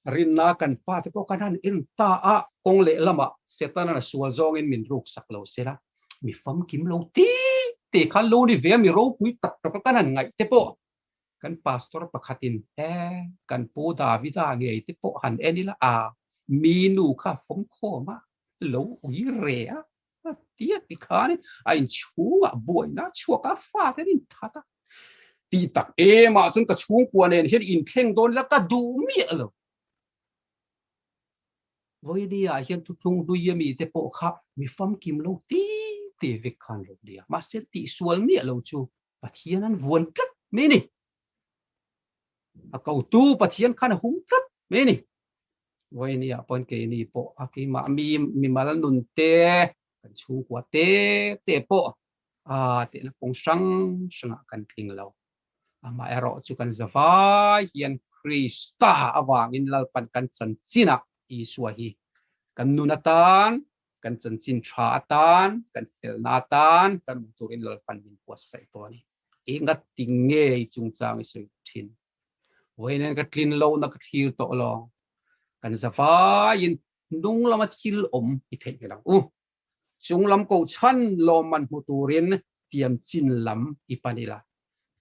rinna kan pa te pawh kan han en ta a, kawng leh lama Setana sual zawngin min ruksak lo sela, mi famkim lo te te khan loni veng mi ropui tak taka kan han ngaih te pawh Kan pastor pakhatin, E, kan pu Davida ngei te pawh han en ila a, mi nu kha fawng khawm a lo ui re a, a ti a ti khanin a inchhunga buaina chhuak a fat an inthat a, tih tak em ah chuan ka chhungkua nen hian inthleng dawn ila ka duh miah lo. Vawini ah hian thuthlung hlui a mi te pawh kha mi famkim lo ti ti vek kha an lo ni a, mahse tih sual miah lo chu Pathian an vuan tlat mai ni. A kau tu Pathian khan a hum tlat mai ni. Voi ni a pon ke ni po a ki ma mi mi mal nun te kan chung kua te te po a te na kong sang sang a kan tling lo. A ma e ro chu kan zavai hian Krista avangin lalpan kan chanchin a Isua hi kan nun atan kan chanchin tha atan kan felna atan kan awm turin lalpan min puatsaih tawh a ni. I ngatting nge i chungchang i sawi thin? Vawiin hian ka tlin lohna ka thlir tawh lawng, kan zavaiin hnung lama thil awm i theih ngei lo u, chung lam kohchhan lawmman hmu turin tiam chin lam i pan ila,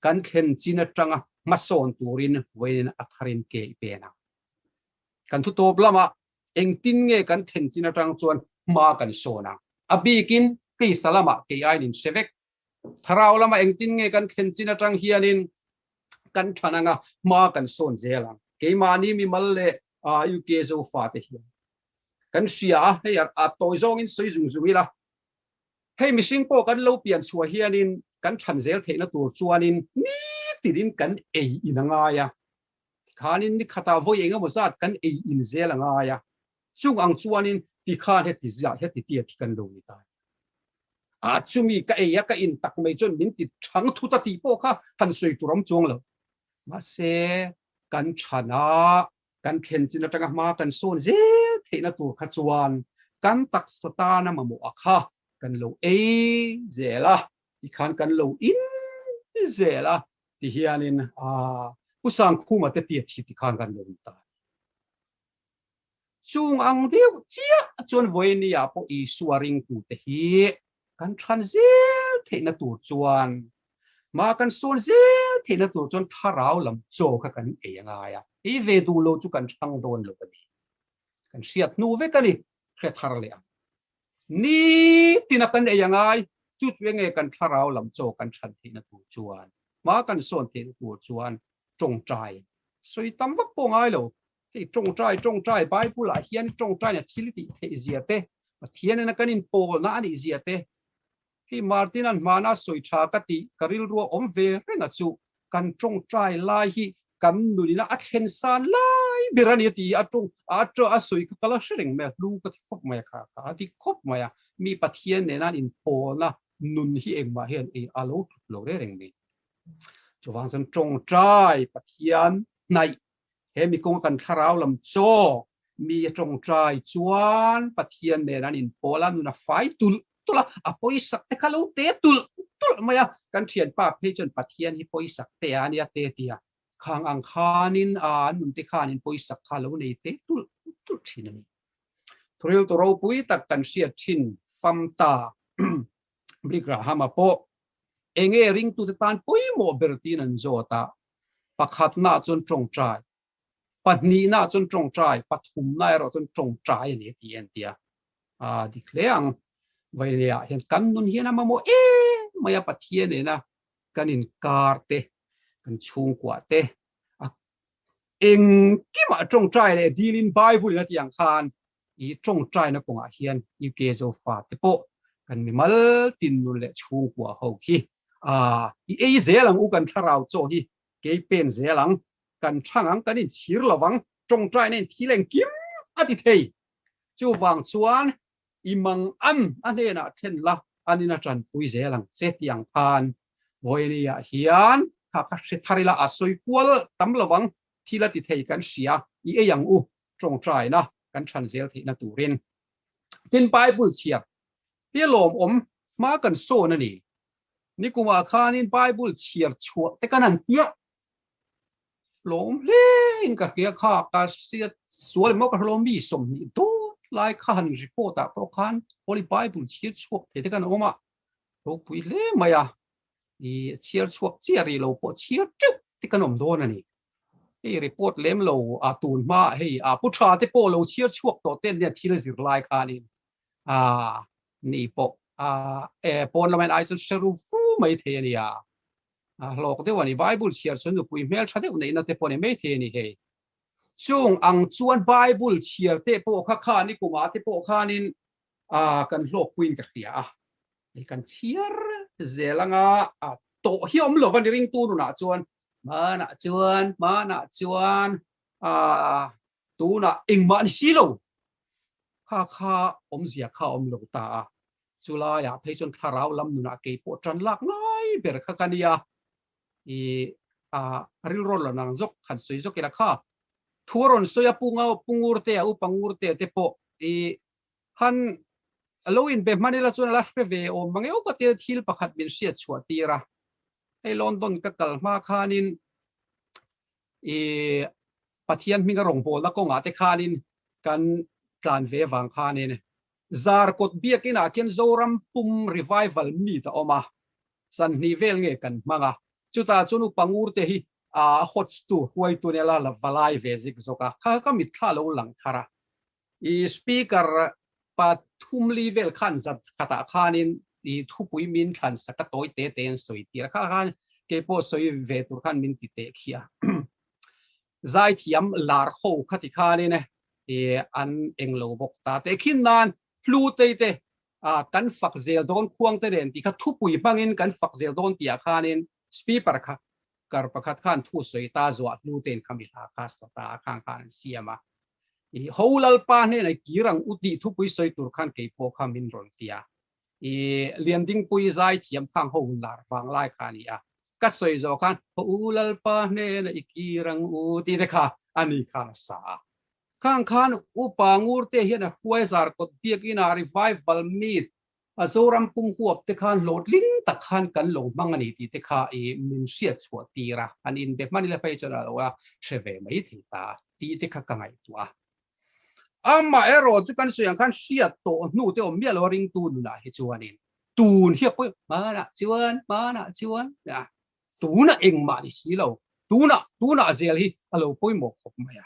kan thlen chin atanga hmasawn turin vawiin a tharin ke i pen ang. Kan thutawp lamah Engtin nge kan thenchin atang chuan hma kan sawn ang? A bikin Krista lamah kei aiin inhre vek. Thlarau lama engtin nge kan thlenchin atang hianin kan than anga hma kan sawn zel ang? Keimahni mimal leh UK zofate hian kan hria a, hei a tawi zawngin sawi zung zung ila. Hei mihring pawh kan lo pian chhuah hianin kan than zel theihna tur chuanin ni tiin kan ei in a ngai a. Tikhanin ni khatah vawi eng emaw zat kan ei inzel a ngai a, chung ang chuanin tikhan heti ziah heti ti a thi kan lo ni ta nia. A chumi ka ei a, ka in tak mai chuan min ti thang thut a tih pawh kha han sawi tur awm chuang lo. Mahse, kan thana kan thlenchin atanga hma kan sawn zel theihna tur kha chuan kan taksa tana mamawha kha kan lo ei zel a. ti khan kan lo in zel a ti hian in a pu sangkhuma te pia thi ti khan kan lo in ta chung ang deuh chia chuan voini a po isua ring tu te hi kan than zel thei na tur chuan ma kan sawn zel thei na tur chuan tharau lam cho kha kan ei angai a i ve du lo chu kan thang don lo ani kan hriat hnu vek ani hre thar leh ang Ni tina kan ei angai, chu chu enge kan thlarau lam chaw kan chhan theihna tur chuan hma kan sawn theihna tur chuan tawngtai sawi tam vak pawh ngai lo. Hei tawngtai tawngtai Bible ah hian tawngtaina thil tih theihzia te, Pathian in a kan inpawlna a nihzia te Hi Martin-a'n hmana sawi tha ka ti, ka rilrua awm ve renga chu kan tawngtai lai hi kan nunina a thlen san lai ber a ni a ti a tawng a ṭa a sawi kha ka la hre reng mai a, hlu ka ti khawp mai a kha ka a dik khawp mai a, mi Pathian nena'n inpawlna nun hi engmah hian ei a lo tluk lo reng reng mai. Chuvang chuan tawngtai Pathian hnaih He mi kawng kan thlarau lam chaw mi a tawngtai chuan Pathian nen an inpawl a, nun a fai tulh tulh a, a pawi sak te kha lo te tulh tulh mai a, kan thianpa phei chuan Pathian hi pawi sak te a nia te tia khang ang khanin an nun te khan in pawi sak kha lo nei te tulh tulh thin a ni. Thuriltu ropui tak kan hriat thin, Famta, Brigrahama pawh eng nge ringtute tan pawimawh ber tiin an zawt a, pakhatnaah chuan tawngtai, pahnihnaah chuan tawngtai, pathumna erawh chuan tawngtai a ni tih a inti a. A dik hle ang, vawileiah hian kan nun hian a mamawh em mai a, Pathian nena kan inkar te, kan chhungkuah te, a engkimah tawngtai leh dilin Bible-in a tih ang khan i tawngtaina kawngah hian UK Zofa te pawh kan mi mal tinnun leh chhungkua ho khi aah i ei zel ang u kan thlarau chaw hi kei pen zel ang kan thang ang kan inchhir lo vang tawngtaina in thil engkim a ti thei chuvang chuan i mang an a hnenah then la an in a tanpui zel ang che ti ang khan Vawini ah hian kha ka hre thar ila a sawi kual tam lo vang thil a ti thei kan hria i ei ang u tawngtaina kan chhan zel theihna turin. Tin, Bible chhiar hi lawm awm hma kan sawn a ni. Nikumah khanin Bible chhiar chhuah te ka nan piah lawm hle in ka hria kha ka hriat sual emaw ka hrilawm mi sawm hnih dawt lai kha han report ah pawh khan Holy Bible chhiar chhuak thei te kan awm a, ropui hle mai a, ih chhiar chhuak chiah rih lo pawh chhiar teuh te kan awm dawn a ni. Hei report lem lo a tun hma ah hei pu tha te pawh lo chhiar chhuak tawh ten nia thil zir lai khan in ni pawh pawn lam en ai chu hreru fu mai thei ania a hlawk deuh ani bible chhiar chhun nupui hmel tha deuh neihna te pawh ni mai thei ani hei chung ang chuan bible chhiar te pawh kha khan i kuma te pawh khan in a kan hlawk puin ka hria a kan chhiar zelanga to hi om lo van ring tu nuna chuan Hmanah chuan, hmanah chuan, aah, tunah engmah ni si lo, kha kha awmzia kha awm lo ta a, chu laiah phei chuan thlarau lam nunah kei pawh tan lak ngai ber kha ka nia, ih, aah, rilrawn lo nang zawk han sawi zawk ila kha, thu a rawn sawi a, Pu Ngau, Pu Ngurtea, U Pangngur tea te pawh, ih, han alo inbe hman ila chuan ala hre ve awm mangeu ka tia thil pakhat min hriat chhuah tir a hei London ka kal hma khanin i Pathian hminga rawngpawlna kawngah te khanin kan tlan ve vang khanin zar kawt biakin ah khian Zoram pum revival meet a awm a sanhnih vel nge kan hmang a chutah chuan u Pangur te hi a hawttu huaituna la la va lai ve zik zawk a kha ka mitthla lo lang thar a I Speaker Pathumli vel khan zat khatah khanin i thupui min thlan sa ka tawi te te an sawi tir a kha khan keipawh sawi ve tur khan min ti teh khi a zaithiam lar ho kha ti khanin i an eng lo bawk ta teh khin nan hlu tei te a kan fak zel dawn khuang te nen ti kha thupui hmangin kan fak zel dawn ti ah khanin speaper kha Kar pakhat khan thu sawi ta zuah hnu te in kha mi hla kha sa ta a khang khan an siam a, i ho Lalpa hnena i kir ang u tih thupui sawi tur khan kei pawh kha min rawn ti a, i Liandingpui zai thiam khang ho hun lar vang lai kha a ni a, ka sawi zawh khan ho u Lalpa hnena i kir ang u tih te kha a ni khan a sa a. Khang khan Upa Ngurte hian a hruaizar kawt biak in a ri vai valmi A Zoram pum huap te khan hlawhtling tak khan kan lo hmang a ni tih te kha i min hriat chhuah tir a, an in be hmani la phei chuan a lo la hre ve mai thei ta tih te kha ka ngaihtuah a. Amah erawh chu kan sawi ang khan hriat tawh hnu te awm miah lo a ringtu nunah hi chuan in tun hi a pawi hmanah chuan hmanah chuan a. Tunah engmah ni si lo, tunah, tunah zel hi a lo pawimawh khawp mai a.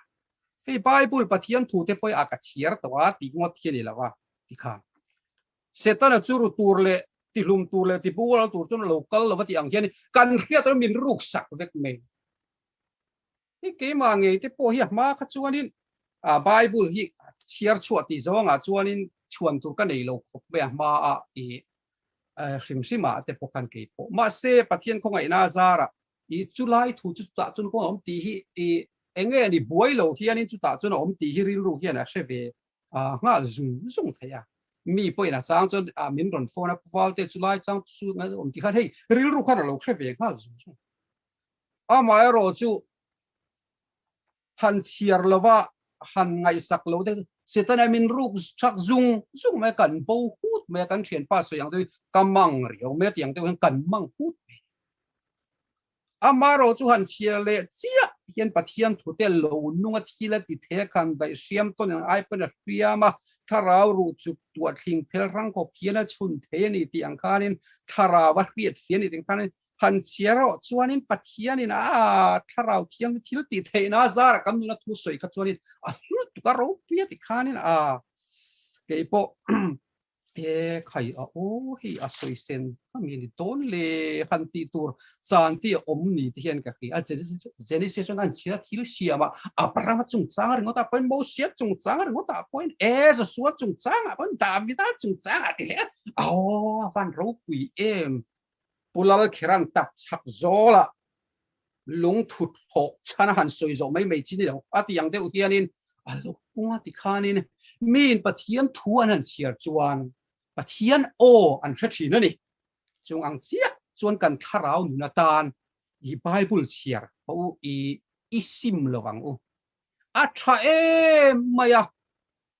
Hei Bible Pathian thute pawih a ka chhiar tawh a tih ngawt hi a ni lo a ti khan. Setana chu ru tur leh ti hlum tur leh ti bungrawl tur chuan a lo kal lo va tih ang hian kan hriat reng min ruksak vek mai. Hei keimah ngei te pawh hi a hma kha chuanin Bible hi chhiar chhuah tih zawngah chuanin chhuan tur ka nei lo khawp mai a hma a i hrim hrim ah te pawh khan kei pawh. Mahse Pathian khawngaihna a zarah i chulai thu chu chutah chuan kawng a awm tih hi i enge a ni buai lo hianin chutah chuan a awm tih hi rilru hian a hre ve nghal zung zung thei a. Mi pawhin a chang chuan min rawn phone a, Valte chulai chang chu awm tih khan hei rilru khan a lo hre ve nghal zung zung. amaherawh chu han chhiar lova han ngaihsak lo te setana min ruk chak zung zung mai kan bo hut mai kan thian pa sawi ang deuh ka mang riau mai tiang deuh hian kan mang hut mai amaherawh chu han chhiar le chiah hian pathian thute lo nunga thil a ti the khan daih hriam tawn in ai pawn a hriam a thlarau ruh chuk tuah thling phel hrang khawp hian a chhun thei a ni tih ang khanin thlarau a hriat fiah a ni tih ang khanin Phanchhia erawh chuanin Pathianin a Thlarau thiang hi thil tih theihna a zara kan nuna thu sawi kha chuanin a hrilh tuk a, ropui a ti khanin a keipawh he khai a aw hei a sawi sen kha mi a ni dawn le han tih tur chan te a awm ni te hian ka hria. Genesis-a chuan an chhira thil siama Abraham-a chungchanga ringawtah pawhin, Mosea chungchanga ringawtah pawhin, ee Joshua chungchangah pawhin, Davida chungchangah tih leh a aw a van ropui em! Pu Lalkherang tak chhak zawla lungthut hlawh chhana han sawi zawh mai mai chin i lo. A tih ang deuh hianin a lukpung a ti khanin miin Pathian thu an han chhiar chuan Pathian aw an hre thin a ni. Chung ang chiah chuan kan thlarau nun atan i Bible chhiar haw u i i sim lo ang u. A tha em mai a,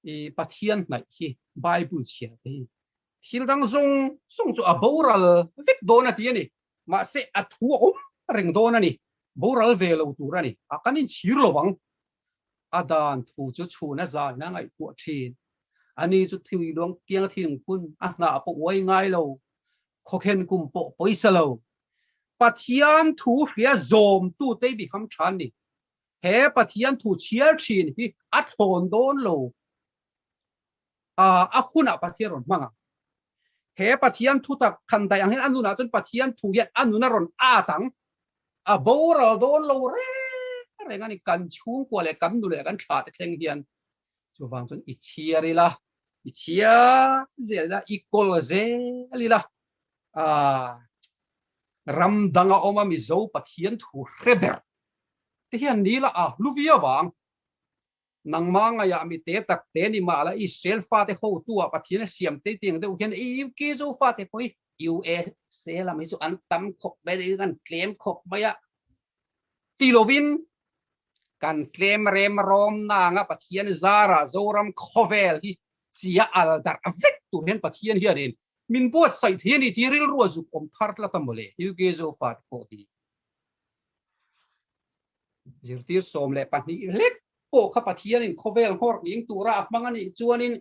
i Pathian hnaih hi Bible chhiar te hi Thil dang zawng zawng chu a boral vek dawn a ti a ni. Mahse, a thu a awm reng dawn a ni. Boral ve lo tur a ni. A kan inchhir lo vang. A dan thu chu chhun a zain a ngaihtuah thin. Ani chu thui luang tiang thingpun a hnah pawh uai ngai lo. Khawkhen kum pawh pawisa lo. Pathian thu hria zawmtu te biham tha an ni. He Pathian thu chhiar thin hi a thlawn dawn lo. A a hunah Pathian rawn hmang a. He Pathian thutak than daih ang hian a nunah chuan Pathian thu hian a nun a rawn at ang. A boral dawn lo reng reng a ni. Kan chhungkua leh kan nu leh kan tha te thleng hian chuvang chuan i chhiar ila, i chhiar zel ila, i kawl zel ila. A ram danga awma Mizo Pathian thu hre ber te hian nila a hlu viau ang. Nangma ngaihah mi te tak te ni mah la Israel fate hotu ah Pathian a siam tei tiang deuh hian i UK zu fate pawh hi, USA lam hi chu an tam khawp mai ni, an tlem khawp mai a ti lo in kan tlem rem rawm na anga Pathian zar ah Zoram khawvel hi chia al darh vek tur hian Pathian hian in min buatsaih thei a ni tih hi rilru a zuk awm thar tlat a maw le UK zu fate pawh hi. zirtir sawm leh pahnih hlek pawh kha Pathianin khawvel nghawr ning tura a hmang a nih chuanin,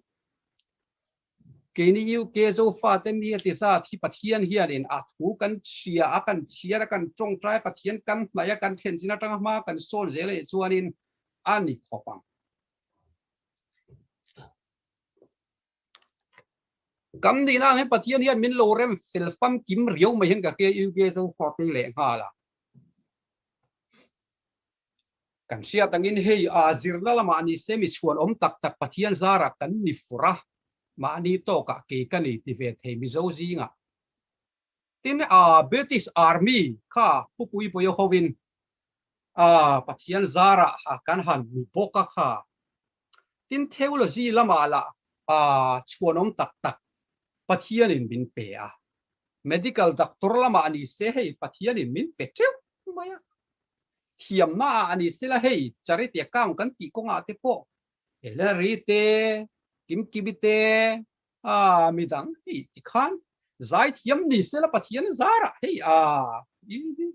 keini UK Zofate mi a ti zat hi Pathian hianin a thu kan hria, a kan chhiar, a kan tawngtai, Pathian kan hnaih a, kan thlenchhin atanga hma kan sawn zel a nih chuanin a ni khawp ang. Kan nih na angin Pathian hian min lo rem fel fam kim riau mai hian ka ke in ke zo khuar pui leh nghal a. Kan hriat angin hei a zirna lamah ni se mi chhuan awm tak tak Pathian zarah kan ni fur a, mahni tawkah kei ka ni ti ve thei mizo zingah. Tin a British Army kha khupui poio hovin a Pathian zara ha kan han hmu bawk a kha. Tin theology lama lah a chhuanawm tak tak Pathian in min pe a. Medical doctor lama a ni se hei Pathian in min pe teuh mai a. Thiamna ah a ni se la hei charity account kan tih kawngah te pawh Hillary te, Kim Kibi te, A mi dang hi ti khan zai thiam ni sela pathian zar ah hei a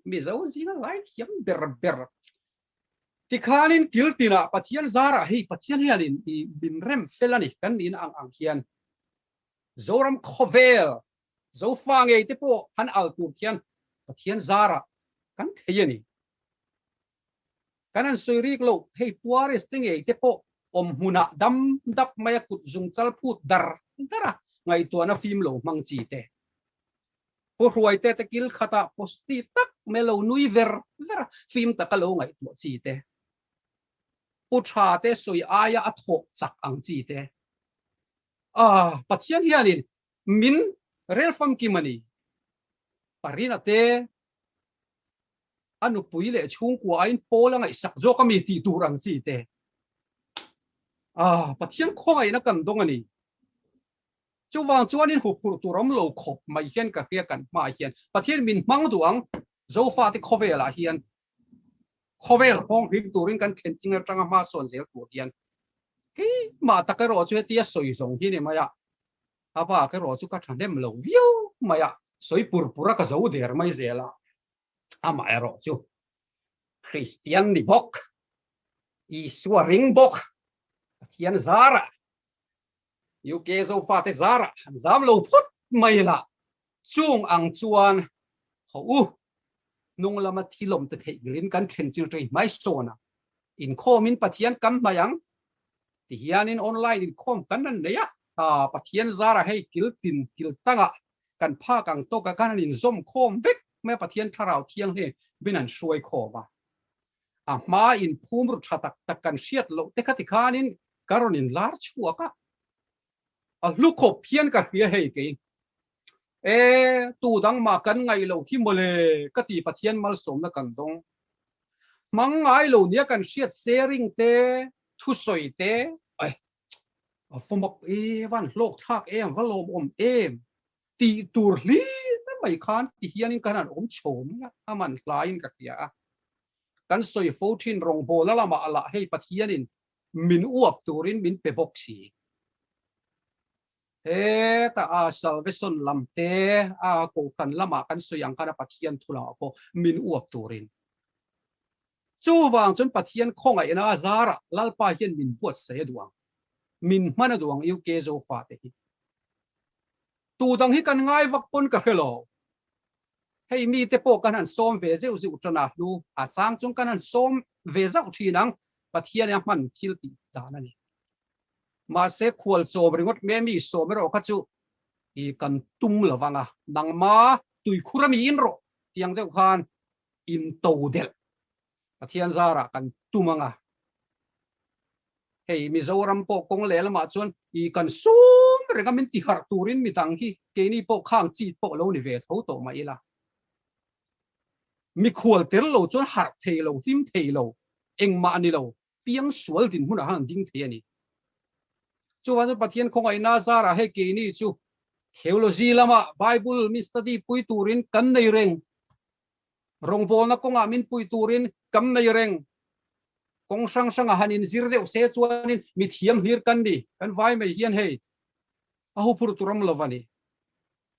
mizo zinga zai thiam ber ber ti khan in kil tina pathian zar ah hei pathian hian in i min rem fel ani kan ni na ang ang hian zoram khovel zo fa ngei te po han al tur khian pathian zar ah kan thei ani Kan han sawi rîk lo, hei Puaris te ngei te pawh awm hmunah dam dap maia kut zung chalphut dar dara ngaihtuahna fîm lo hmang chi te, Pu Hruaite te kil khatah posti tak mai lo nui ver vera fîm taka lo ngaihtuah chi te, Pu Tha te sawi aia a thawh chak ang chi te, Aaa, Pathian hianin min relfam ki mani, Parina te, a nupui leh chhungkua aiin Paul a ngaihsak zawk a mi tih tur ang chi te. Ah, Pathian khawngaihna kan dawng a ni. Chuvang chuanin huphurh tur awm lo khawp mai hian ka hria kan hmaah hian Pathian min hmang duh ang. Zofa te khawvelah hian khawvel hawng hlim turin kan thlen ching atanga hma sawn zel tur hian keimah tak erawh chu hetia sawi zawng hi ni mai a, a bak erawh chu ka tha hnem lo viau mai a, sawi pur pura ka zo der mai zel a. amah erawh chu Kristian ni bawk, Isua ring bawk, Pathian zarah, UK Zofate zarah an zam lo phawt mai la, chung ang chuan haw u, hnung lama thil awmte theih ngilin kan thlen chil tawh inhmai sawn a, inkhawmin Pathian kan hmai ang ti hianin online inkhawm kan han nei a, aa Pathian zarah hei kiltin, kiltangah kan phak ang tawk a, kan han inzawm khawm vek mai a, Pathian Thlarau Thianghlim in han hruai khawm a, a hma in phum ru tha tak tak kan hriat loh te kha ti khan in ka rawn in lar chhuak a, a hlu khawp hian ka hria hei ke i, E, tu dang mah kan ngaih loh hi mawle ka ti Pathian malsawmna kan dawng, hmangngai lo nia kan hriat sharing te, thusawi te, a va mak em an hlawk thlak em va lawmawm em ti tur hlim mai khan ti hianin kan han awm chho mai a a man hlaiin ka hria a kan sawi fo thin rawngbawla lama alah hei pathianin min uap turin min pe bawk si heta a salvation lam te a kohhran lama kan sawi ang khan a pathian thula pawh min uap turin Chuvang chuan Pathian khawngaih na a zarah Lalpa hian min buatsaih a duh ang, min hman a duh ang UK zo fate hi. Tu dang hi kan ngai vak pawn ka hre lo. Hei mite pawh kan han sawm ve zeuh zeuh tan a, hnu a chang chung kan han sawm ve zauh thin ang, Pathian a hman thil tih dan a ni. Mahse khual chawm ringawt hme mi sawm erawh kha chu i kan tum lo vang a, nangma tuikhur a miin rawh tiang deuh khan In to delh Pathian zarah kan tum ang a, hei Mizoram pawh kawng leh lamah chuan ih kan sum reng a min ti harh turin mi dang hi keini pawh khang chit pawh lo ni ve tho tawh mah ila, mikhual tel lo chuan harh thei lo, hlim thei lo, engmah ni lo Piang sual dinhmunah han ding thei a ni. Chuvang chuan Pathian khawngaihna zarah hei keini chu theology lama Bible min study pui turin kan nei reng, rawngbawlna kawngah min pui turin kan nei reng, kawng hrang hrangah han inzir deuh se chuanin mithiam hlir kan ni. Kan vaimei hian hei a huphur tur awm lova ni.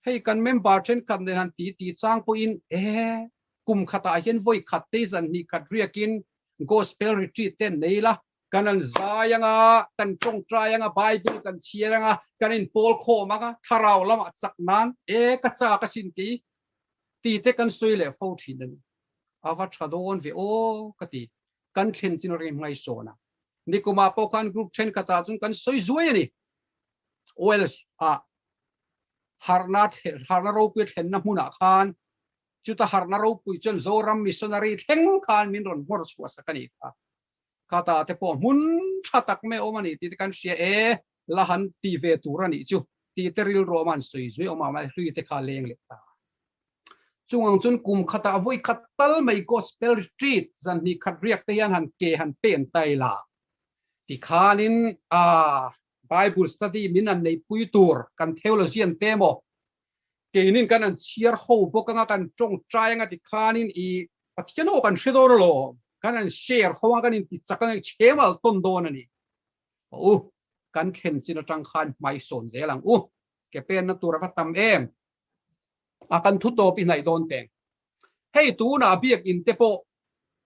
Hei kan member thenkhat nen han ti tih chang pawhin ee kum khatah hian vawi khat te zan hnih khat riakin Gospel Retreat te an nei ila, kan an zai anga, kan tawngtai anga, Bible kan chhiar anga, kan inpawl khawm anga, thlarau lamah chak nan ee ka chak ka sin kei ti te kan sawi leh fo thin a ni. A va tha dawn ve aw ka ti. Kan thlen chin reng hngaihsawnah nikumah pawh khan group thenkhatah chuan kan sawi zuai a ni. Wales ah harna harna ropui thlenna hmunah khan chuta harna ropui chuan Zoram missionary thleng khan min rawn hnawr chhuah sak a ni kha. Khata te pawh hmun tha tak mai a awm a ni tite kan hria e, la han ti ve tur a nih chu tite rilru awm a an sawi zuih a awm a mahni hlui te kha leng leh ta. Chungang chuan kum khat ah vawi khat tal mai Gospel Retreat zan hnih khat riak te hian han ke han pen ta ila ti khanin a Bible study min an neihpui tur kan theology an pe maw? Keinin kan an chhiar ho bawk anga kan tawng ṭai anga ti khanin i Pathian ho kan hre dawn alawm, kan an share ho anga kan intichak a ngaih che mal tawn dawn a ni. Hawh u, kan thlen chin aṭang khan hmaisawn zel ang u, ke penna tur a va tam em! A kan thutawp i hnaih dawn teh. Hei tunah biakin te pawh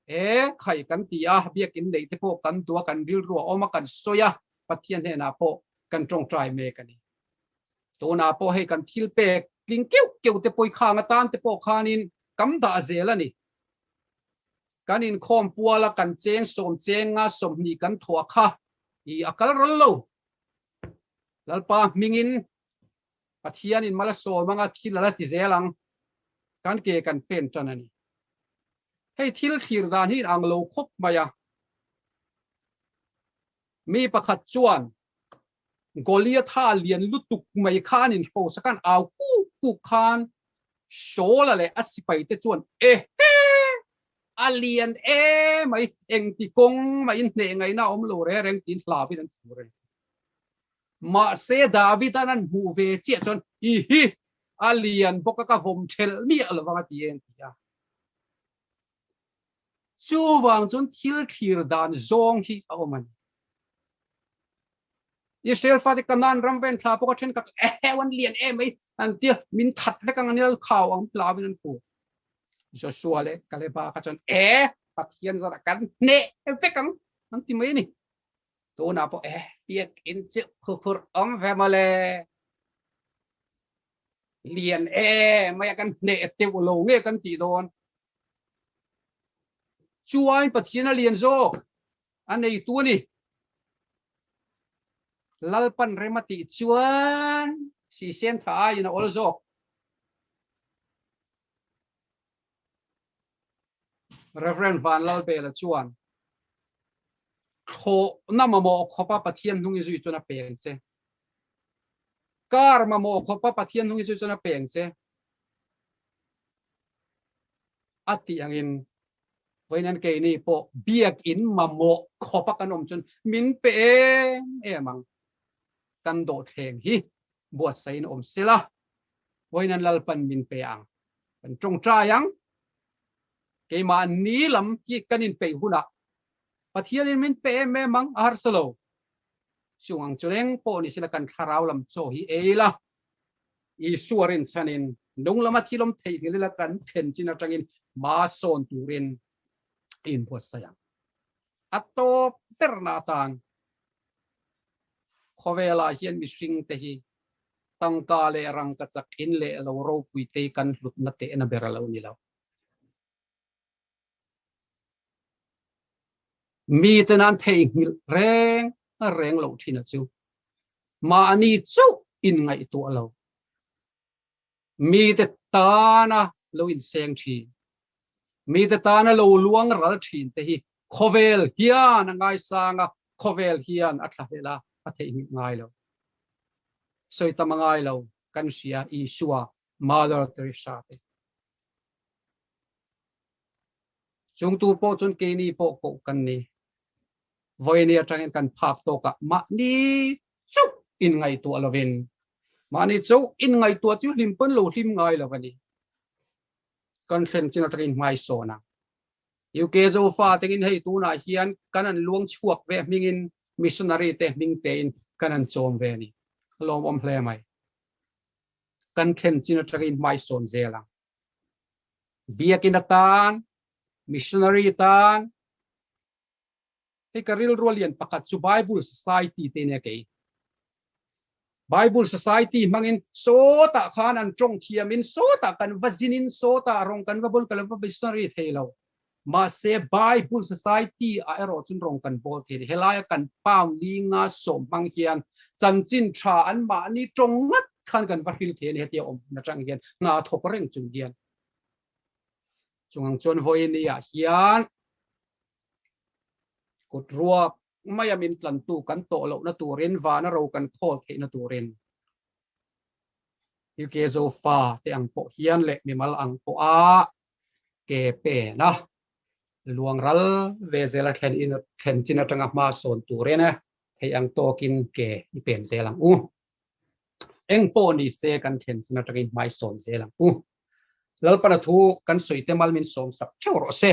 e khai kan ti a, biakin nei te pawh kan duh a, kan rilru a awm a, kan sawi a, Pathian hnenah pawh kan tawngtai mek a ni. Tunah pawh hei kan thil pek tling keu keu te pawi khang atan te pawh khanin kam dah zel a ni. Kan inkhawm pual a, kan cheng sawm cheng a, sawmhnih kan thawh a kha i a kal ral lo. Lalpa hmingin Pathianin mala sawm anga thil a la ti zel ang, kan ke kan pen tan a ni. Hei thil thlir dan hi inang lo khawp mai a. Mi pakhat chuan Goliatha lian lutuk mai kha an inhrosa kha an au kuk kuk khan Saula leh a sipaite chuan Ehe! A lian e mai, engti kawng mah in hnehngaihna a awm lo reng reng tiin hlavin an thur a ni. Mahse David an an hmuh ve chiah chuan, I hi, a lian bawk a, ka vawm ṭhelh miah lo vang a ti e an ti a. Chuvang chuan thil thlir dan zawng hi a awm a ni. Israel fate Canaan ram ven thla pawh ka ṭhenkhat eheu an lian e mai an ti a, min that vek ang ania, khau ang hlau in an pu. Joshua leh Kaleba kha chuan, E, Pathian zara kan hneh vek ang an ti mai a ni. Tunah pawh he piak in chiah phu phurh awm ve mawle. Lian e mai a kan hneh teuh lo nge kan tih dawn. Chuan Pathian a lian zawk a neitu a ni. Lalpan rem a tih chuan Sisentha aiin a awl zawk. Rev. Van Lal Bela chuan, Thlawhna mamawh khawpa Pathian hnung i zui chuan a peng che. Kar mamawh khawpa Pathian hnung i zui chuan a peng che. A tih angin, Vawiin an keini pawh biakin mamawh khawpa kan awm chuan min pe em em ang. Kan dawh thleng hi buatsaih in awm sela, vawiin an lalpan min pe ang. Kan tawng trai ang. Keimah ni lam hi kan in peih huna Pathian in min pe em em ang a harsa lo. Chung ang chu reng pawh ni sila kan thlarau lam chaw hi ei la. Isua rin chhan in nung lama thilawm theihnghilh ila kan thlen chin atang in hma sawn tur in a in buatsaih ang. A tawp ber na tan khawvel ah hian mihring te hi tangka leh rangkachak in leh lo ropui te kan hlutna tehna ber a lo ni lo. Mi ten an theihnghilh reng reng loh thin a chu mahni chauh in ngaihtuah lo. Mite tana lo inseng thin, mite tana lo luang ral thin te hi khawvel hian a ngaisang a, khawvel hian a thlahlel a, a theihnghilh ngai lo. Sawi ta mangai lo kan hria Isua, Mother Teresa te. Chung tur pawh chuan keini pawh koh kan ni. Vawiin atangin kan phak tawkah mahni chauh in ngaihtuah lovin, mahni chauh in ngaihtuah chu hlim pawn lo hlim ngai lo a ni. Kan thlen chin aṭangin hmaisawn a, UK Zofa tengin hei tunah hian kan an luang chhuak ve hmingin missionary te hming tein kan an chawm ve a ni. A lawmawm hle mai. Kan thlen chin aṭangin hmaisawn zel ang. Biakin atan, missionary tan, Hei ka rilru lian pakhat chu Bible Society te nia kei. Bible Society hmangin sawta khan an tawng thiamin sawta kan va zinin sawta rawng kan va bawl kan va missionary thei lo. Mahse Bible Society ah erawh chun rawng kan bawl thei ni. Helaia kan Panglinga sawm hmang hian chanchin tha an mahni tawng ngat khan kan va hril thei a ni. Hetia awm hmun atang hian hna thawk reng chung hian. Chungang chuan vawinia hian kut ruak maia min tlantu kan tawh lohna turin vana ro kan khawl theihna turin hi ke zofa te ang pawh hian leh mimal ang pawha ke pena luangral ve zela thlen in thlen chin atanga hma sawn turin thei ang tawkin ke i pen zel ang u eng pawh ni se kan thlen chin atangin hmai sawn zel ang u lalpana thu kan sawi te mal min sawm sak theuh rawh se